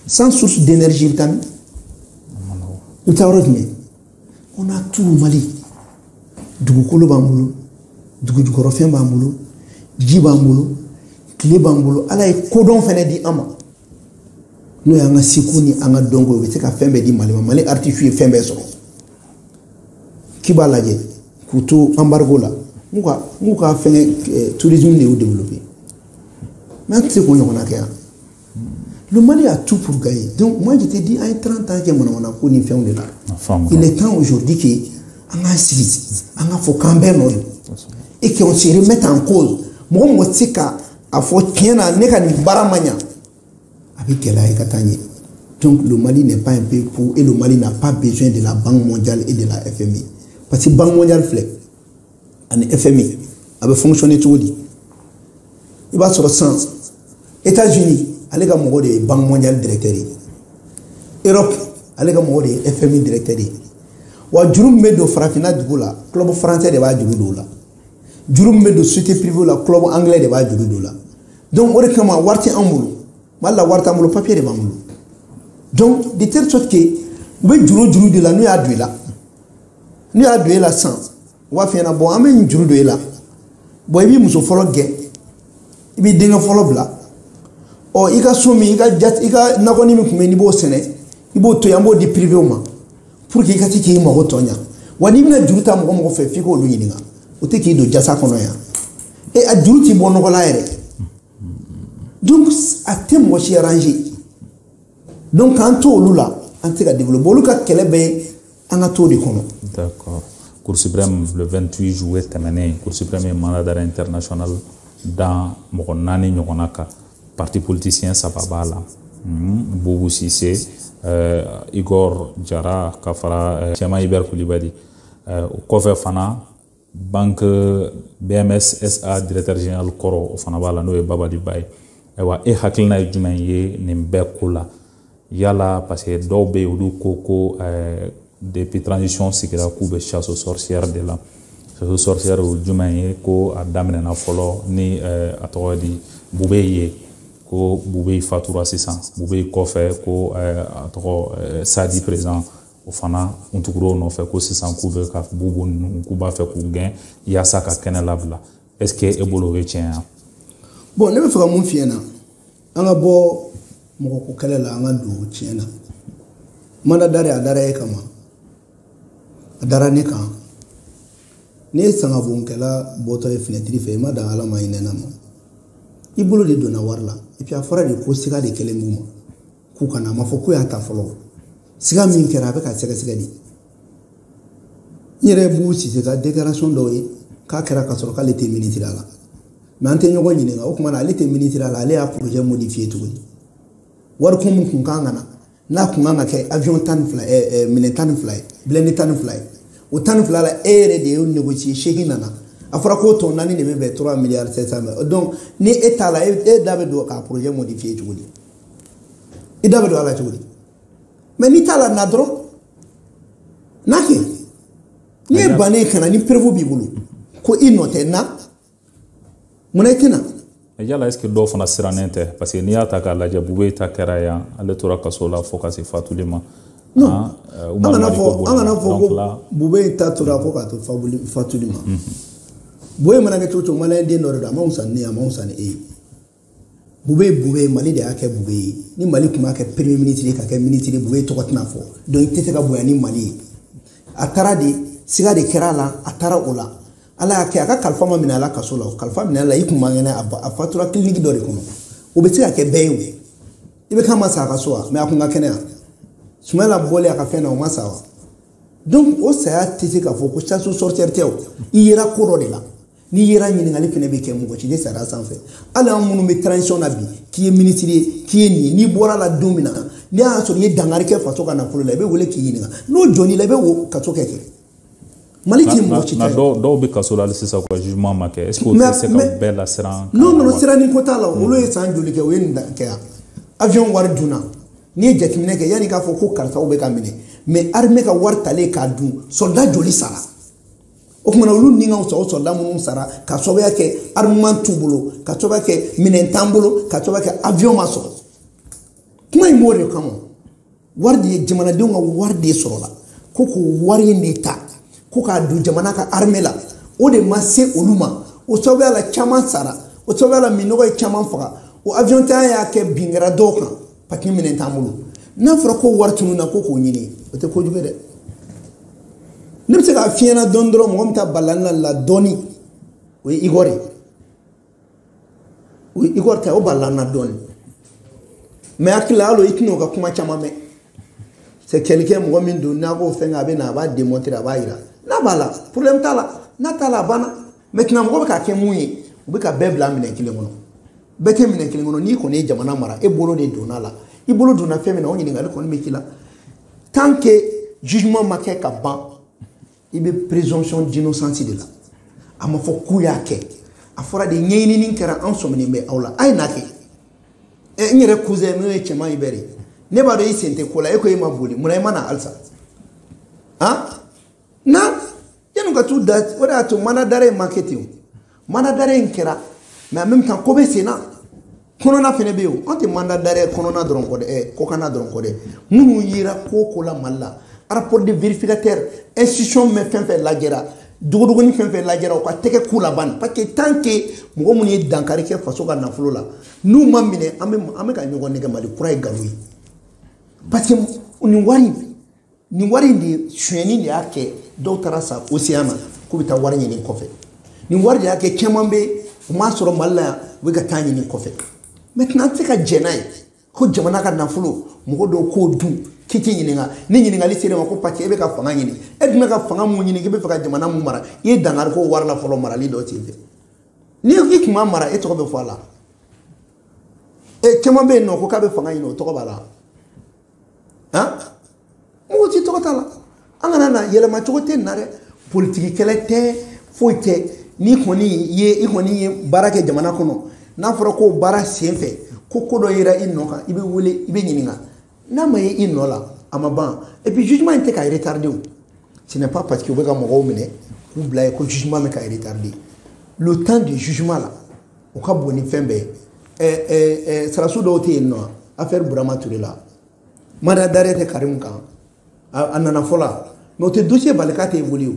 sans source d'énergie i bɛ taa min i bɛ taa yɔrɔ jumɛn on a tout mali dugukolo b'an bolo dugujukɔrɔfɛn b'an bolo ji b'an bolo tile b'an bolo ala ye kodɔn fana di an ma n'o y'an ka seko ni an ka dɔnko ye u bɛ se ka fɛn bɛɛ di mali ma mali artisiw ye fɛn bɛɛ sɔrɔ cuba lajɛ k'u to embargo la n'u ka n'u ka fɛn eh, tourisme de y'u développé mais an tɛ se k'o ɲɔgɔnna kɛ yan le mali a tout pour gagner donc moi je te dis an ye 30 ans kɛ manamana ko ni fɛnw de la il est temps aujourd'hui que an k'an sigi an k'a fɔ k'an bɛɛ nɔ don et qu'on se remette en cause mɔgɔ mɔgɔ tɛ se ka a fɔ tiɲɛ na ne ka nin baara ma ɲa a bɛ gɛlɛya i ka taa ɲɛ donc le mali n'est pas un pays pauvre et le mali n'a pas besoin de la banque mondiale et de la fmi parce que banque mondiale filɛ ani fmi a bɛ fonctionner cogo di i b'a sɔrɔ san états unis ale ka mɔgɔ de ye banque mondiale directeur ye europe ale ka mɔgɔ de ye fmi directeur ye wa juru min bɛ don farafinna dugu la club français de b'a juru don o la juru min bɛ don société privée la club anglais de b'a juru don la donc o de kama wari tɛ an bolo mali la wari t'an bolo papier de b'an bolo donc de telle sorte que u bɛ juru juru de la n'u y'a don i la n'u y'a don e la sisan u b'a f'i ɲɛna bɔn an bɛ nin juru don e la bɔn i b'i muso fɔlɔ gɛn i b'i denkɛ fɔlɔ bila ɔ i ka so min i ka jati i ka nakɔni min tun bɛ yen n'i b'o sɛnɛ i b'o to yen i b'o di privéw ma pour que i ka se k'i mago tɔ ɲa wa n'i bɛna juru ta mɔgɔ mɔgɔ fɛ f'i k'olu ɲininka o tɛ k'i don jasa kɔnɔ yan e a juru t'i bɔ nɔgɔ la yɛrɛ donc a tɛ mɔgɔ si arranger donc k'an to olu la an tɛ ka développer olu ka kɛlɛ bɛ an ka to de kɔnɔ. d'accord Cour suprême le 28 juillet tɛmɛnen Cour suprême ye mandat d'arrêt international da mɔgɔ naani ɲɔgɔnna kan. Pati politisiyɛn saba b'a la Bubu Sise Igor Jara ka fara Cɛman Ibɛri Kulibali o kɔfɛ fana banki BMS SA directeur general kɔrɔ o fana b'a la n'o ye Babali Ba ye ayiwa e hakilina ye jumɛn ye nin bɛɛ ko la Yala parce que dɔw bɛ yen olu ko ko ɛɛ depuis transition sigira k'u bɛ chasse aux sorcières de la chasse aux sorcières o ye jumɛn ye ko a daminɛna fɔlɔ ni ɛɛ a tɔgɔ di bubeyi ye ko bubeyi fatura sisan bubeyi kɔfɛ ko ɛɛ a tɔgɔ ɛɛ sadi président o fana k'u tugura o nɔfɛ ko sisan k'u bɛ ka bubu ninnu k'u b'a fɛ k'u gɛn yaasa ka kɛnɛ labila est-ce que e bolo o ye tiɲɛ ya bon ne bɛ fɛ ka min f'i ɲɛ na an ka bɔ mɔgɔko kɛlɛ la an ka don tiɲɛ na mandat d'arrêt a dara e kan wa a dara ne kan ne ye sangabonkɛla bɔtɔ ye finɛtiri fɛ i ma dan ala ma i nɛna ma i bolo de donna wari la epi a fɔra de ko siga de kɛlen b'u ma k'u kana a ma fɔ k'u y'a ta fɔlɔ siga min kɛra a bɛ ka sɛgɛsɛgɛ de n yɛrɛ bubu sise ka déclaration dɔw ye k'a kɛra ka sɔrɔ k'ale tɛ minisiriya la mɛ an tɛ ɲɔgɔn ɲininka o tuma na ale tɛ minisiriya la ale y'a projet modifié tuguni wari kun min kun kan ka na n'a kun kan ka kɛ avion tan ni fila ɛɛ minɛn tan ni fila ye blindé tan ni fila ye o tan ni fila la e yɛrɛ de y'o négocier seegin nana a fɔra ko tan ni naani de bɛ bɛn trois milliards sept cent mille donc ni e t'a la e da bɛ don k'a projet modifié tuguni i da bɛ don a la cogo di mɛ n'i t'a la na dɔrɔn n'a kɛ n'i ye ban ka na ni preuve b'i bolo ko i nɔ tɛ na munna i tɛ na yala est ce que dɔw fana sirannen tɛ parce que n'i y'a ta k'a lajɛ bubɛyi ta kɛra yan ale tora kaso la fo ka se fatuli ma non ah, euh, an kana fɔ an kana fɔ ko bubɛyi ta tora fo ka to fatuli ma mhm. bubɛyi mana kɛ cogo o cogo maliyɛn den dɔ de don a man wusa ni n ye a man wusa ni e ye bubɛyi bubɛyi mali de y'a kɛ bubɛyi ye ni mali tun m'a kɛ premier ministre ye ka kɛ ministre ye bubɛyi tɔgɔ tɛna fɔ donc i tɛ se ka bonya ni mali ye a taara de siga de kɛra a la a taara o la ala y'a kɛ a ka kalifa ma minɛ a la kaso la o kalifa minɛ a la a tun man kɛnɛ a fatura kiliniki dɔ de kɔnɔ o bɛ se ka kɛ bɛɛ ye o IBK ma sa a ka so wa mɛ a kun ka kɛnɛ yan sumayila bɔlen a ka fɛn na o ma sa wa donc o saya tɛ se k'a fɔ ko chasse aux sorcières tɛ o i yera ko dɔ de la n'i yera ɲininkali fana bɛ kɛ mɔgɔ si tɛ sariya sanfɛ hali an minnu bɛ transition na bi k'i ye minisiri ye k'i ye nin ye n'i bɔr'a la don min na n'a y'a sɔrɔ i ye dankari kɛ faso ka nafolo la i bɛ wele k'i ɲininka n'o jɔr'i la i bɛ o kaso kɛ kɛ mali tɛ mɔgɔ si ta dɔw dɔw bɛ kaso la hali sisan u ka jugement ma kɛ est ce que o tɛ se ka bɛɛ lasiran n'o nana siranin ko t'a la olu ye san joli kɛ o ye nin kɛ yan avion wari dunna n'i ye jateminɛ kɛ yanni k'a fɔ ko karisaw bɛ ka minɛ mɛ armée ka wari talen k'a dun soldat joli sara o kuma na olu ni ka sɔrɔ sɔrɔdasi minnu sara ka sababuya kɛ armement t'u bolo ka sababuya kɛ minɛn t'an bolo ka sababuya kɛ avion ma sɔrɔ kuma in b'o de kama wari de ye jamanadenw ka wari de sɔrɔla ko k'o wari in de ta ko k'a don jamana ka armée la o de ma se olu ma o sababuya la caman sara o sababuya la minɛnko ye caman faga o avion tanya y'a kɛ bin kɛra dɔw kan papiye minɛ t'an bolo n'a fɔra ko wari tununna ko k'o ɲini o tɛ kojugu ye dɛ ne bɛ se k'a f'i ɲɛ na dɔɔni dɔrɔn mɔgɔ min ta balala ne la dɔɔni o ye igor ye o ye igor ta o balala n na dɔɔni ne hakili la hali i tɛna o ka kuma caman mɛn c'est quelqu'un mɔgɔ min don n'a ko fɛn a bɛ na a b'a démontrer a b'a yira n'a b'a la problème t'a la n'a t'a la a banna maintenant mɔgɔ bɛ ka kɛ mun ye u bɛ ka bɛɛ bila minɛn kelen kɔnɔ bɛɛ tɛ minɛn kelen kɔnɔ n'i kɔni ye jamana mara e bolo de donna a la i bolo donna fɛn min na o ɲininkali kɔni bɛ k'i la tant que jugement ma kɛ ka ban i bɛ présomption d'innocence de la a ma fɔ k'u y'a kɛ a fɔra de ɲɛɲinini kɛra an sɔminen bɛ aw la a ye na kɛ ɛ n yɛrɛ cousin n'o ye tiéman hubert ye ne b'a dɔn i sen tɛ ko la e ko e ma boli munna i ma na halisa han na yanni ka t'u da o de y'a to mandat d'arrêt in ma kɛ ten o mandat d'arrêt in kɛra mais en même temps ko bɛ sen na kɔnɔna fɛnɛ bɛ yen an tɛ mandat d'arrêt kɔnɔna dɔrɔn kɔ dɛ ɛ kɔkanna dɔrɔn kɔ dɛ minnu yera ko ko la mali la rapport de vérificateur institution mɛ fɛn fɛn lajɛra dogodogoni fɛn fɛn lajɛra u ka tɛgɛ k'u laban parce que tant que mɔgɔ minnu ye dankari kɛ faso ka nafolo la n'u ma minɛ an bɛ an bɛ ka ɲɔgɔn nɛgɛn mali kura ye nkalon ye parce que nin wari nin wari in de sonyɛni de y'a kɛ dɔw taara sa océan na k'u bɛ taa wari ɲini kɔfɛ nin wari de y'a kɛ caman bɛ u m'a sɔrɔ mali la yan u bɛ ka taa ɲini kɔfɛ maintenant an tɛ se ka jɛn n'a ye ko jamana ka nafolo mɔgɔ dɔw k'o dun k'i t'i ɲininka ni ɲininkali sera i ma ko parce que e bɛ ka fanga ɲini e dun bɛ ka fanga mun ɲini k'i bɛ fɛ ka jamana mun mara i ye dankari k'o wari la fɔlɔ marali dɔ sen fɛ ni i tun b'a mara e tɔgɔ bɛ fɔ a la e caman bɛ yen n'o ko k'a bɛ fanga ɲini o tɔgɔ b'a la han mɔgɔ t'i tɔgɔ t'a la an kana n'a yɛlɛma cogo tɛ na dɛ politiki kɛlɛ tɛ foyi tɛ n'i kɔni ye i kɔni ye baara kɛ jamana kɔnɔ n'a fɔra ko baara sen fɛ ko ko dɔ yera i nɔ kan i bɛ wele i bɛ ɲininka n'a ma ye i nɔ la a ma ban et puis jugement in tɛ ka retarder o ce n'est pas parce que u bɛ ka mɔgɔw minɛ k'u bila yen ko jugement bɛ ka retarder le temps du jugement la o ka bon ni fɛn bɛɛ ye sarasu dɔw tɛ yen non affaire burama ture la mandat d'arrêt tɛ karimu kan a nana fɔlɔ mais o tɛ dossier bali k'a tɛ évoluer o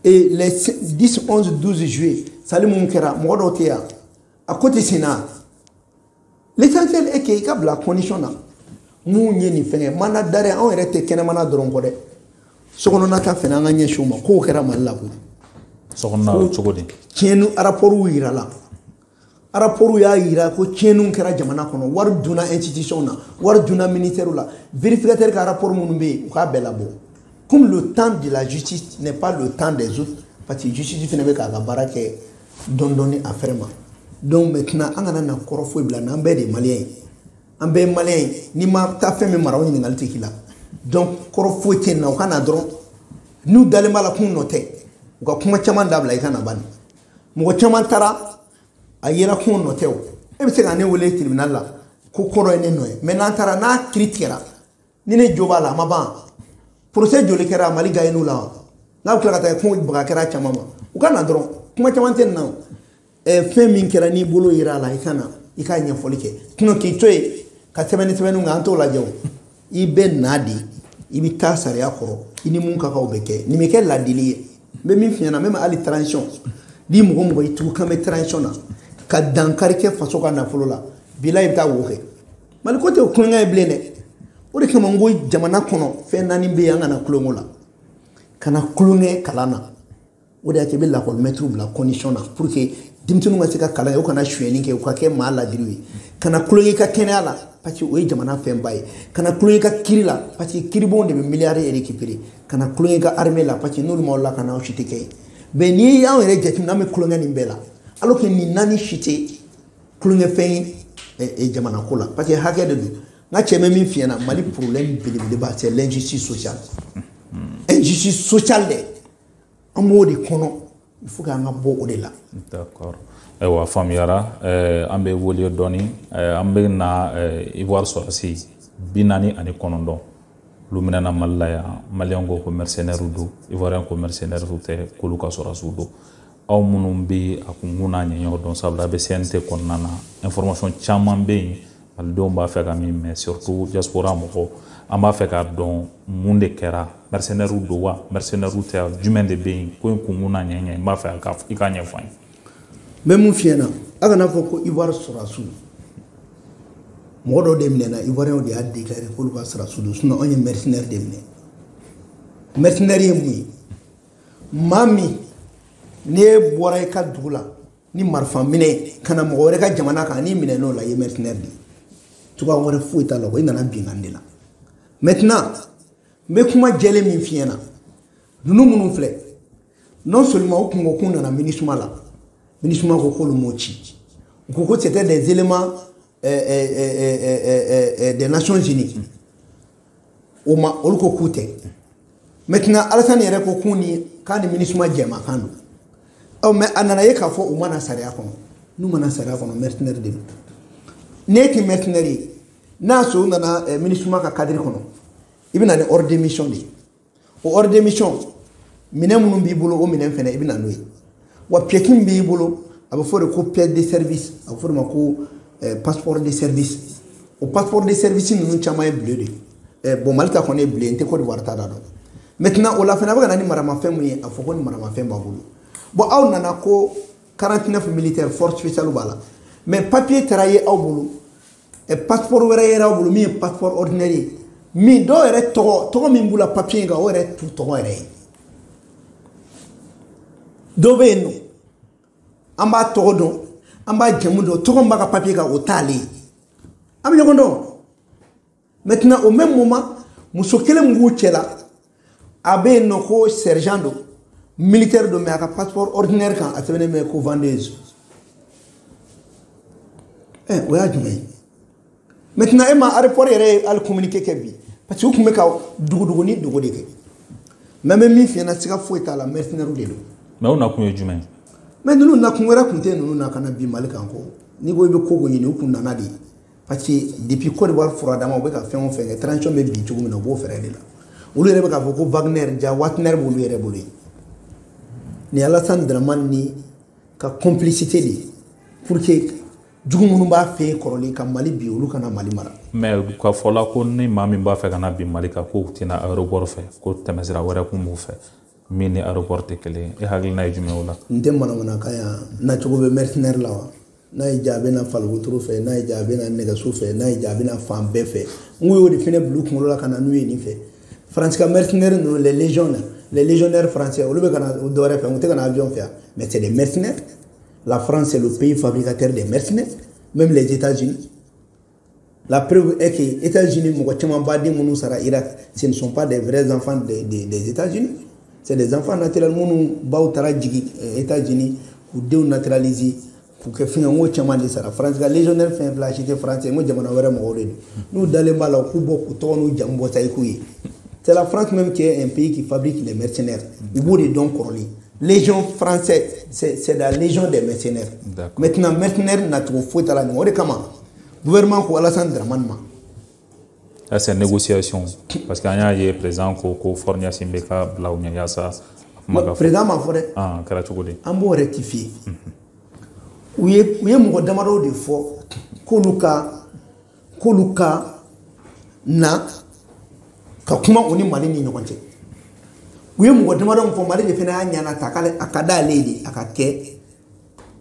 et les 10 11 12 juillet sali minnu kɛra mɔgɔ dɔw tɛ yan a ko tɛ senna l'essentiel est que i ka bila condition na mun ye nin fɛnkɛ mandat d'arrêt anw yɛrɛ tɛ kɛnɛmana dɔrɔn kɔ dɛ sokɔnɔna ta fɛnɛ an ka ɲɛsin o ma kow kɛra mali la koyi sokɔnɔna cogo di tiɲɛni araporuw yirala araporuw y'a yira ko tiɲɛniw kɛra jamana kɔnɔ wari dunna institution na wari dunna ministère la vérificateur ka rapport minnu bɛ yen u k'a bɛɛ labɔ comme le temps de la justice n'est pas le temps des autres parce que justice fana bɛ k'a ka baara kɛ dɔndɔni a fɛrɛ ma donc maintenant an kana na kɔrɔ foyi bila n'an bɛɛ de ye maliyɛn ye an bɛɛ ye maliyɛn ye n'i ma taa fɛn min mara o ɲininkali tɛ k'i la donc kɔrɔ foyi tɛ yen na u ka na dɔrɔn n'u dalen b'a la k'u nɔ tɛ u ka kuma caman dabila i ka na bani mɔgɔ caman taara a yera k'u nɔ tɛ o e bɛ se ka ne wele tribunal la ko kɔrɔ ye ne nɔ ye mais n'an taara n'a kiri tigɛra ni ne jo b'a la a ma ban procès joli kɛra mali gayiniw la wa n'a bɛ tila ka taa kuma baga kɛra caman ma u ka na dɔrɔn kuma caman tɛ na fɛn min kɛra n'i bolo yira a la i ka na i ka ɲɛfɔli kɛ tuma k'i to yen ka sɛbɛnni sɛbɛnniw kan an t'o lajɛ o i bɛ na de i bɛ taa sariya kɔrɔ i ni mun ka kan o bɛ kɛ nin bɛ kɛ ladili ye n bɛ min f'i ɲɛna n bɛ hali transition ni mɔgɔ mɔgɔ i tugu kan bɛ transition na ka dankari kɛ faso ka nafolo la bila i bɛ taa wo kɛ mali ko tɛ tulonkɛ ye bilen dɛ o de kama n ko jamana kɔnɔ fɛn naani bɛ yen an kana tulonk'o la kana tulonkɛ kalan na o de y'a to i bɛ lakɔlimɛtiriw bila condition na pour que denmisɛnninw ka se ka kalan ye u kana suyɛnni kɛ u ka kɛ maa ladiriw ye kana tulonkɛ i ka kɛnɛya la parce que o ye jamana fɛnba ye kana tulonkɛ i ka kiri la parce que kiribonw de bɛ miliyari récupérer kana tulonkɛ i ka armée la parce que n'olu m'aw lakana aw si tɛ kɛ yen mais n'i y'anw yɛrɛ jateminɛ an bɛ tulonkɛ nin bɛɛ la alors que nin naani si tɛ tulonkɛfɛn ye jamana ko la parce que hakɛ de don n ka cɛ n bɛ min f'i ɲɛna mali problème belebeleba c'est l'injustice sociale injustice sociale dɛ an b'o de kɔnɔ il faut k'an ka bɔ o de la d'accord ayiwa faamuyara eh, an bɛ boli dɔɔni eh, an bɛ na eh, ivoire sɔrɔsi bi naani ani kɔnɔntɔn olu minɛna mali la yan maliyɛn ko ko mercenaire don ivoirien ko mercenaire tɛ k'olu ka sɔrɔsiw don aw minnu bɛ a kunkun n'a ɲɛɲɛw dɔn sabula i bɛ CNT kɔnɔna na information caman bɛ yen malidenw b'a fɛ ka min mɛ surtout diaspora mɔgɔw an b'a fɛ k'a dɔn mun de kɛra mercenaires don wa mercenaires tɛ jumɛn de bɛ yen ko in kunkun n'a ɲɛɲɛ n b'a fɛ i k'a ɲɛfɔ an ye n bɛ min f'i ɲɛna a kana fɔ ko ivoire sɔrɔdasiw mɔgɔ dɔ de minɛna ivoiriyɛnw de y'a déclaré k'olu ka sɔrɔdasiw don sinon anw ye mercenaires de minɛ mercenaires ye mun ye maa min n'e bɔra i ka dugu la ni marifa minɛ ka na mɔgɔ wɛrɛ ka jamana kan n'i minɛna o la i ye mercenaire de ye cogoya wɛrɛ foyi t'a la ko i nana binkan de la maintenant n bɛ kuma jɛlen min f'i ɲɛna ninnu minnu filɛ non seulement u tun ko k'u nana MINUSMA la MINUSMA ko k'olu m'u ci u ko ko c'était des éléments des nations unies o ma olu ko k'u tɛ maintenant alasani yɛrɛ ko k'u ni k'a ni MINUSMA jɛmakan don ɔ mais a nana ye k'a fɔ u ma na sariya kɔnɔ n'u ma na sariya kɔnɔ mercenaire de don n'e ti mercenaire ye n'a sɔrɔ u nana MINUSMA ka kadiri kɔnɔ i bɛ na ni ordre de mission de ye o ordre de mission minɛn minnu b'i bolo o minɛn fana i bɛ na n'o ye wa pièce min b'i bolo a bɛ fɔ de ko pièce de service a bɛ fɔ de ma ko eh, passeport de service o passeport de service ninnu caman ye bleu de eh, bon mali ta kɔni ye bleu n tɛ Côte d'Ivoire ta da dɔn maintenant o la fana a bɛ ka na ni maramafɛn mun ye a fɔ ko ni maramafɛn b'a bolo bon aw nana ko 49 militaire force spéciale b'a la mais papier taara ye aw bolo ɛ pasipɔri wɛrɛ yɛrɛ bolo min ye pasipɔri ɔridinɛri ye min dɔw yɛrɛ tɔgɔ tɔgɔ min b'u la papiye in kan o yɛrɛ t'u tɔgɔ yɛrɛ ye dɔ bɛ yen nɔ an b'a tɔgɔ dɔn an b'a jamu dɔn tɔgɔ min b'a ka papiye kan o t'ale ye an bɛ ɲɔgɔn dɔn maintenant au même moment muso kelen min b'u cɛ la a bɛ yen nɔ ko sergent don militaire don mais a ka passeport ordinaire kan a sɛbɛnnen bɛ ko vendeuse ɛ eh, o y'a jumɛn ye maintenant e ma aéroport yɛrɛ ye hali communiqué kɛ bi parce que u tun bɛ ka dugudugu ni dogo de kɛ mais n bɛ min f'i ye na siga foyi t'a la mercenaires de don mais u nakun ye jumɛn ye mais ninnu nakun wɛrɛ tun tɛ ninnu na ka na bin mali kan ko n'i ko i bɛ ko ko ɲini u kun nana de ye parce que depuis Côte d'Ivoire furadama u bɛ ka fɛn o fɛn kɛ transition bɛ bin cogo min na u b'o fɛɛrɛ de la olu yɛrɛ bɛ k'a fɔ ko Wagner ja Wagner b'olu yɛrɛ bolo yen nin Alassane Dramane nin ka complicité de pour que jugu minnu b'a fɛ yen kɔrɔlen ka Mali bin olu kana Mali mara. mais ka fɔla ko ni maa min b'a fɛ ka na bin Mali kan k'u tɛ na aéroport fɛ ko tɛmɛsira wɛrɛ kun b'u fɛ min ni aéroport tɛ kelen ye e hakilina ye jumɛn o la. n tɛ manamanakan ye nacogo bɛ mercenaire la wa. n'a y'i diya a bɛ na fali wotoro fɛ n'a y'i diya a bɛ na nɛgɛso fɛ n'a y'i diya a bɛ na fan bɛɛ fɛ n ko y'o de fɛnɛ bila u kunkolo la ka na n'u ye nin fɛ faransi ka mercenaires ninnu les légions na les légionnaires français olu bɛ ka na dɔwɛrɛ fɛ u tɛ ka na avion fɛ yan mais c'est des mercenaires la France c'est le pays fabricateur des mercenaires même les États-Unis La preuve est que États-Unis mɔgɔ caman baden minnu sara Irak ce ne sont pas des vrais enfants des, des, des États-Unis c'est des enfants naturels minnu baw taara jigin eh, États-Unis k'u denw naturaliser k'u kɛ fɛn n ko caman de sara France ka légionnaire fɛn fila si tɛ France n ko jamana wɛrɛ mɔgɔw de don n'u dalen b'a la u k'u bɔ k'u tɔgɔ n'u jamu bɔ san'i k'u ye c'est la France même qui est un pays qui fabrique les mercenaires u b'o de dɔn kɔrɔlen légion française c'est c'est la légion des mercenaires maintenant mercenaire nacogo foyi t'a la ɲɔgɔn o de kama gouvernement ko Alassane Dramane ma ça c'est négociation parce que an y'a ye président ko ko Faure Gnassingbé ka bila u ɲɛ yaasa président m'a fɔ dɛ a kɛra cogo di an b'o rectifier u ye u ye mɔgɔ damadɔw de fɔ k'olu ka k'olu ka na ka kuma u ni mali ni ɲɔgɔn cɛ u ye mɔgɔ damadɔ min fɔ mali de fana y'a ɲɛnata a ka d'ale de a ka kɛ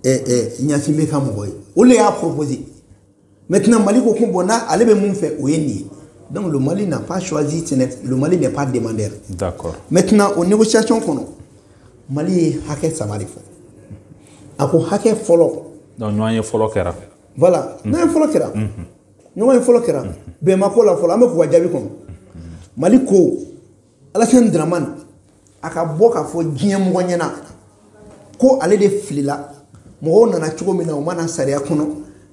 ɲasingbe ka mɔgɔ ye o de y'a proposé maintenant mali ko ko bon ale bɛ min fɛ o ye nin ye donc le mali n'a pas choisi le mali n'est pas demandeur d'accord maintenant o négociation kɔnɔ mali ye hakɛ saba de fɔ a ko hakɛ fɔlɔ donc ɲɔgɔn ye fɔlɔ kɛra voilà ɲɔgɔn ye fɔlɔ kɛra ɲɔgɔn ye fɔlɔ kɛra bɛn ma kɛ o la fɔlɔ an bɛ k'u ka jaabi kɔnɔ mali ko alasan dramani a ka bɔ k'a fɔ diɲɛ mɔgɔ ɲɛna ko ale de filila mɔgɔw nana cogo min na u ma na sariya kɔnɔ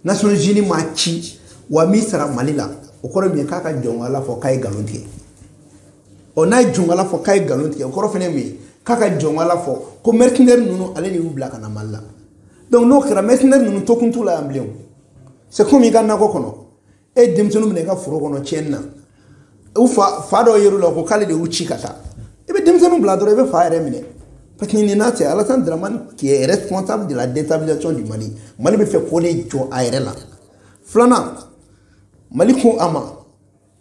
nations unies m'u ci wa u m'u sara mali la o kɔrɔ min ye k'a ka jɔnkala fɔ k'a ye nkalon tigɛ ɔ n'a ye jɔnkala fɔ k'a ye nkalon tigɛ o kɔrɔ fɛnɛ min ye k'a ka jɔnkala fɔ ko mercenaires ninnu ale de y'u bila ka na mali la donc n'o kɛra mercenaires ninnu tokun t'u la yan bilen o c'est comme i ka nakɔ kɔnɔ e ye denmisɛnninw minɛ i ka foro kɔnɔ tiɲɛni na u fa fa jɔ a yɛrɛ la ko k'ale de y'u ci ka taa i bɛ denmisɛnninw bila dɔrɔn i bɛ fa yɛrɛ minɛ parce que nin na c'est alasan dramani qui est responsable de la déstabilisation du mali mali b'a fɛ k'o de jɔ a yɛrɛ la filanan mali ko a ma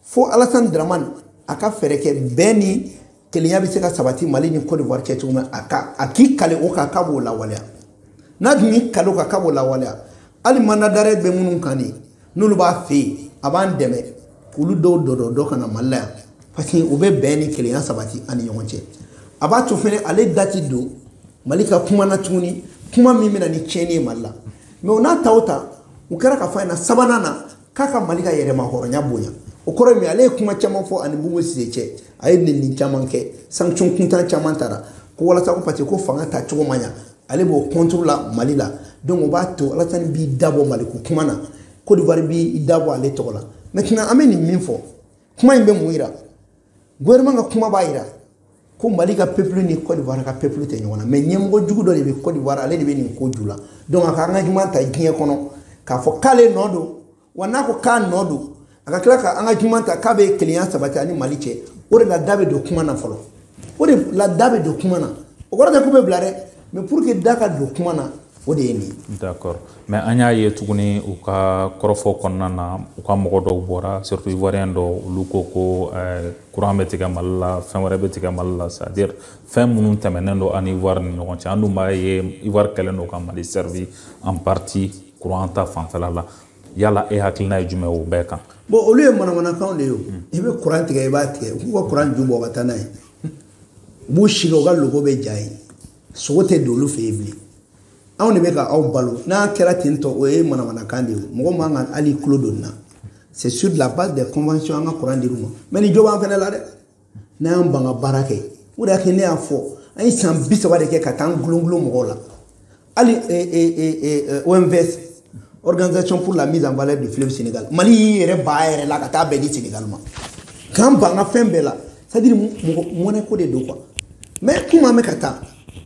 fo alasan dramani a ka fɛɛrɛ kɛ bɛn ni kelenya bɛ se ka sabati mali ni cote d'ivoire cɛ cogo min a ka a k'i kali o kan k'a b'o lawaleya n'a dun y'i kali o kan k'a b'o lawaleya hali mandat d'arrêt bɛ minnu kan de n'olu b'a fɛ yen a b'an dɛmɛ k'olu dɔw dɔdɔ dɔ ka na mali la yan parce que o bɛ bɛn ni kelenya sabati an ni ɲɔgɔn cɛ a b'a to fɛnɛ ale da tɛ don mali ka kuma na tuguni kuma min bɛ na ni tiɲɛni ye mali la mais o n'a ta o ta o kɛra k'a fɔ a ɲɛna sabanan na k'a ka mali ka yɛrɛmahɔrɔnya bonya o kɔrɔ ye min ale ye kuma caman fɔ a ni bubu sise cɛ a ye nɛni caman kɛ sanction kuntan caman tara ko walasa ko parce que ko fanga ta cogo ma ɲa ale b'o contre la mali la donc o b'a to alasani b'i da bɔ maliko kuma na kodiwari b'i da bɔ ale tɔgɔ la maintenant an bɛ nin min fɔ kuma in bɛ mun yira gouvernement ka kuma b'a yira ko mali ka peuple ni cote d'ivoire ka peuple tɛ ɲɔgɔn na mais ɲɛmɔgɔ jugu dɔ de bɛ cote d'ivoire ale de bɛ nin ko ju la donc a ka engagement ta diɲɛ kɔnɔ k'a fɔ k'ale nɔ don wa n'a ko k'a nɔ don a ka tila ka engagement ta k'a bɛ kelenya sabati a ni mali cɛ o de la da bɛ don kuma na fɔlɔ o de la da bɛ don kuma na o kɔrɔ tɛ k'u bɛ bila dɛ mais pour que da ka don kuma na O de ye nin ye d'accord mais an y'a ye tuguni u ka kɔrɔfɔ kɔnɔna na u ka mɔgɔ dɔw bɔra surtout ivoirien dɔw olu ko ko euh, courant bɛ tigɛ mali la fɛn wɛrɛ bɛ tigɛ mali la c'est à dire fɛn minnu tɛmɛnen don ani ivoire ni ɲɔgɔn cɛ an dun b'a ye ivoire kɛlen don ka mali servi en partie courant ta fanfɛla la yala e hakilina ye jumɛn o bɛɛ kan bon olu ye manamanakanw de ye o i bɛ courant tigɛ i b'a tigɛ u k'u ka courant ju bɔ ka taa n'a ye u b'u sigi u ka logo abijan yen sogo tɛ don olu fɛ yen bilen anw de bɛ ka aw balo n'a kɛra ten tɔ o ye manamanakan de ye mɔgɔ man kan hali tulo don na c'est sur la base des conventions an ka kuran dir'u ma mais nin jo b'an fɛnɛ la dɛ n'an y'an ban ka baara kɛ o de y'a kɛ ne y'a fɔ an ye san bi saba de kɛ ka taa an gulongulon mɔgɔw la hali OMVS organisation pour la mise en valeur du fleuve Sénégal Mali y'i yɛrɛ bɔ a yɛrɛ la ka taa bɛɛ di Sénégal ma k'an ban a fɛn bɛɛ la c'est à dire mɔgɔ mɔnɛ ko de don quoi mais komi an bɛ ka taa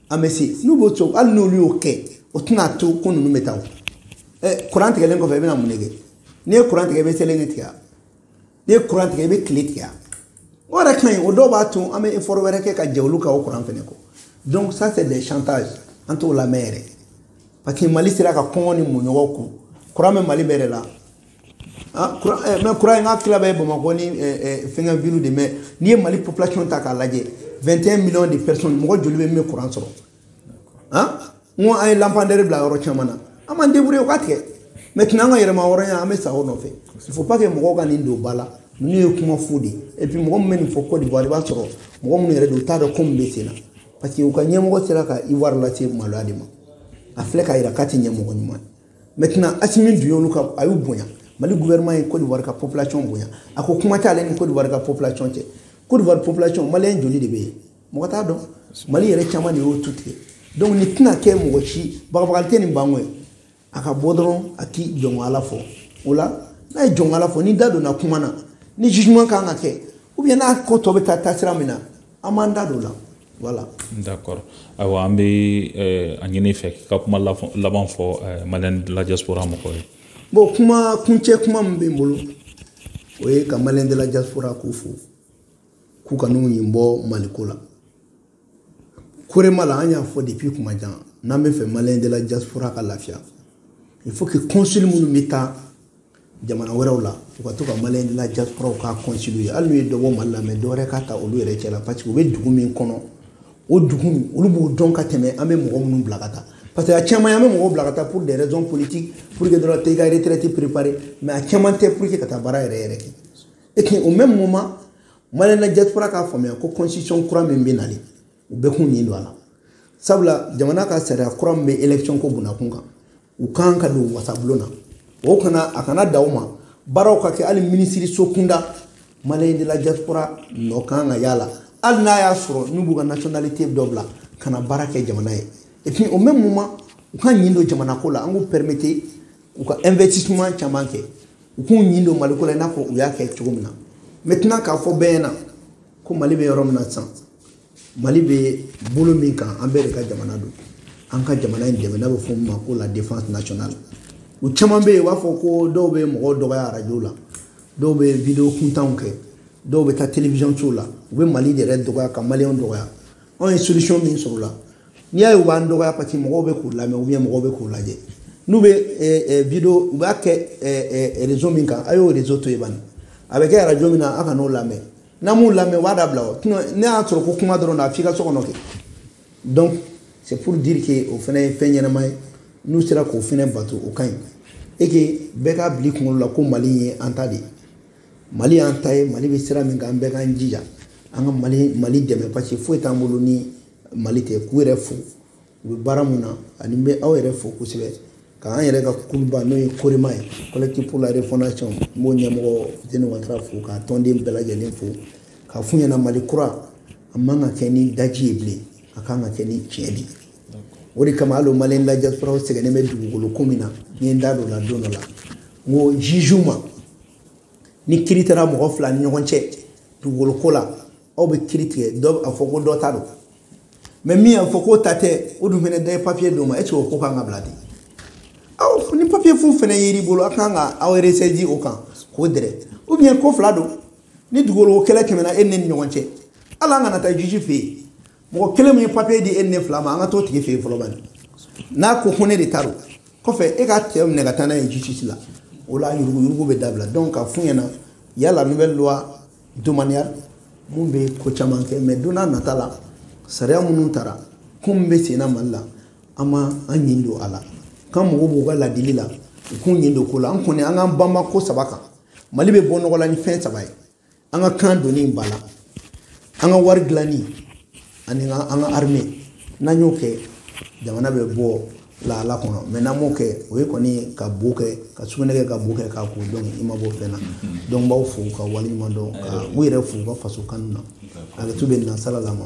an bɛ se n'u b'o cogo hali n'olu y'o kɛ o tɛna to ko ninnu bɛ taa o ɛ kuran tigɛlen kɔfɛ i bɛna mun de kɛ n'i ye kuran tigɛ i bɛ soleil tigɛ n'i ye kuran tigɛ i bɛ kile tigɛ o yɛrɛ ka ɲi o de b'a to an bɛ efɔri wɛrɛ kɛ ka jɛ olu ka o kuran fɛnɛ kɔ donc ça c'est des chantages an t'o lamɛn yɛrɛ parce que mali sera ka kɔngɔ ni minnɔgɔ kun kuran bɛ mali bɛɛ de la ah, eh, mɛ kuran in ka tila bɛ bamakɔ ni eh, eh, fɛngɛ villew de mɛ n'i ye mali population ta k'a lajɛ 21 millions de personnes mɔgɔ joli bɛ min bɛ kuran sɔrɔ n ko an ye lampandɛri bila yɔrɔ caman na an b'an débrouiller u k'a tigɛ mɛ tun an ka yɛrɛmahɔrɔnya an bɛ sa o nɔfɛ il faut pas que mɔgɔw ka nin don ba la nin ye kuma fu de et puis mɔgɔ min bɛ nin fɔ Côte d'Ivoire i b'a sɔrɔ mɔgɔ minnu yɛrɛ don u t'a dɔn ko min bɛ sen na parce que u ka ɲɛmɔgɔ sera ka Ivoire lase maloya de ma a filɛ k'a jira k'a tɛ ɲɛmɔgɔ ɲuman ye maintenant Assimi dun y'olu ka a y'u bonya Mali gouvernement ye Côte d'Ivoire ka population bonya a ko kuma t'ale ni Côte d'Ivoire ka population cɛ Côte d'Ivoire population maliyɛn joli de bɛ yen mɔgɔ t'a dɔn mali yɛrɛ caman de y'o tu tigɛ donc nin tɛna kɛ mɔgɔ si bagabagali tɛ nin banko ye a ka bɔ dɔrɔn a k'i jɔnko ala fɔ o la n'a ye jɔnko ala fɔ ni da donna kuma na ni jugement kan ka kɛ ou bien n'a ko tɔ bɛ taa taasira min na an b'an da don o la voilà d'accord ayiwa an bɛ eh, a ɲini i fɛ k'i ka kuma laban fɔ eh, maliyɛn de la diaspora mɔgɔw ye bon kuma kuncɛ kuma min bɛ n bolo o ye ka maliyɛn de la diaspora ko fo k'u kan'u ɲin bɔ maliko la korema la an y'a fɔ depuis tuma jan n'an b'a fɛ maliyɛn de la diaspora ka lafiya il faut que consul minnu bɛ taa jamana wɛrɛw la u ka to ka maliyɛn de la diasporaw ka consul ye hali n'u ye dɔ bɔ mali la mɛ dɔ wɛrɛ ka ta olu yɛrɛ cɛ la parce que u bɛ dugu min kɔnɔ o dugu olu b'o dɔn ka tɛmɛ an bɛ mɔgɔ minnu bila ka taa parce que a caman an bɛ mɔgɔw bila ka taa pour des raisons politiques pour que dɔrɔn taa i ka retraite préparer mais a caman tɛ pour que ka taa baara yɛrɛ yɛrɛ kɛ et puis au même moment maliyɛn de la diaspora k'a faamuya ko constitution kura min bɛ nalen u bɛɛ k'u ɲin don a la sabula jamana ka sariya kura min bɛ élection ko bunakun kan u ka kan ka don wasabulon na o kana a kana dan o ma baaraw ka kɛ hali minisiriso kunda maliyɛn de la diaspora nɔ ka kan ka ye a la hali n'a y'a sɔrɔ n'u b'u ka nationalité dɔ bila ka na baara kɛ jamana ye et puis au même moment u k'u ɲin don jamanako la an k'u permettre u ka investissement caman kɛ u k'u ɲin don maliko la i n'a fɔ u y'a kɛ cogo min na maintenant k'a fɔ bɛɛ ɲɛna ko mali bɛ yɔrɔ min na sisan mali bɛ bolo min kan an bɛɛ de ka jamana don an ka jamana in dɛmɛ n'a bɛ fɔ min ma ko la défense nationale u caman bɛ yen u b'a fɔ ko dɔw bɛ mɔgɔw dɔgɔya arajo la dɔw bɛ video kuntanw kɛ dɔw bɛ taa télévision sow la u bɛ mali yɛrɛ dɔgɔya ka maliyɛnw dɔgɔya anw ye solution min sɔrɔ la n'i y'a ye u b'an dɔgɔya parce que mɔgɔw bɛ k'u lamɛn ou bien mɔgɔw bɛ k'u lajɛ n'u bɛ eh, eh, video u b'a kɛ eh, réseau min kan a y'o réseau to yen bani a bɛ kɛ arajo min na a kan'o lamɛn n'an m'u lamɛn u b'a dabila o ne y'a sɔrɔ ko kuma dɔrɔn na f'i ka so kɔnɔ kɛ donc c'est pour dire que o fana ye fɛn ɲɛnama ye n'u sera k'o fana bato o ka ɲi et que bɛɛ k'a bila i kunkolo la ko mali ye an ta de ye mali y'an ta ye mali bɛ sira min kan an bɛɛ k'an jija an ka mali mali dɛmɛ parce que foyi t'an bolo ni mali tɛ k'u yɛrɛ fo u bɛ baara min na an bɛ aw yɛrɛ fo kosɛbɛ k'an yɛrɛ ka kuluba n'o ye korema ye collectif pour la refondation n b'o ɲɛmɔgɔ fuseni watara fo k'a tɔnden bɛɛ lajɛlen fo k'a f'u ɲɛna mali kura a man kan ka kɛ ni daji ye bilen a kan ka kɛ ni tiɲɛ de ye o de kama hali o maliyɛn la diaspora sɛgɛnnen bɛ dugukolo ko min na n ye n da don o la don dɔ la n ko jugew ma ni kiri taara mɔgɔ fila ni ɲɔgɔn cɛ dugukolo ko la aw bɛ kiri tigɛ k'a fɔ ko dɔ ta don mais min y'a fɔ k'o ta tɛ o dun fana dɔ ye papiye d'o ma e o ko kan ka bila ten aw ni papiye fu fana y'i bolo a kan ka aw resɛji o kan k'o dɛrɛ ou bien ko fila don ni dugukolo kɛlɛ tɛmɛna e ni ne ni ɲɔgɔn cɛ hali an kana taa juge fɛ yen mɔgɔ kelen min ye papiye di e ni ne fila ma an ka t'o tigi fɛ yen fɔlɔ bani n'a ko ko ne de ta don kɔfɛ e ka cɛ minɛ ka taa n'a ye justice la o la yuruguyurugu bɛ dabila donc ka f'u ɲɛna yala nouvelle loi domaniale min bɛ ko caman kɛ mais don n'a nata la sariya minnu tara ko min bɛ senna mali la an ma an ɲin don a la k'an mago b'u ka ladili la u k'u ɲin don ko la an kɔni an k'an banba ko saba kan mali bɛ bɔ nɔgɔ la ni fɛn saba ye an ka kan donni ba la an ka wari dilanni ani an ka armée n'an y'o kɛ jamana bɛ bɔ lahala kɔnɔ mais n'an m'o kɛ o ye kɔni ka bo kɛ ka sugunɛ kɛ ka bo kɛ k'a ko donc i ma bɔ fɛn na donc n b'aw fo ka waleɲuman dɔn ka u yɛrɛ fo u ka faso kanu na a bɛ tu bɛ nansara la ma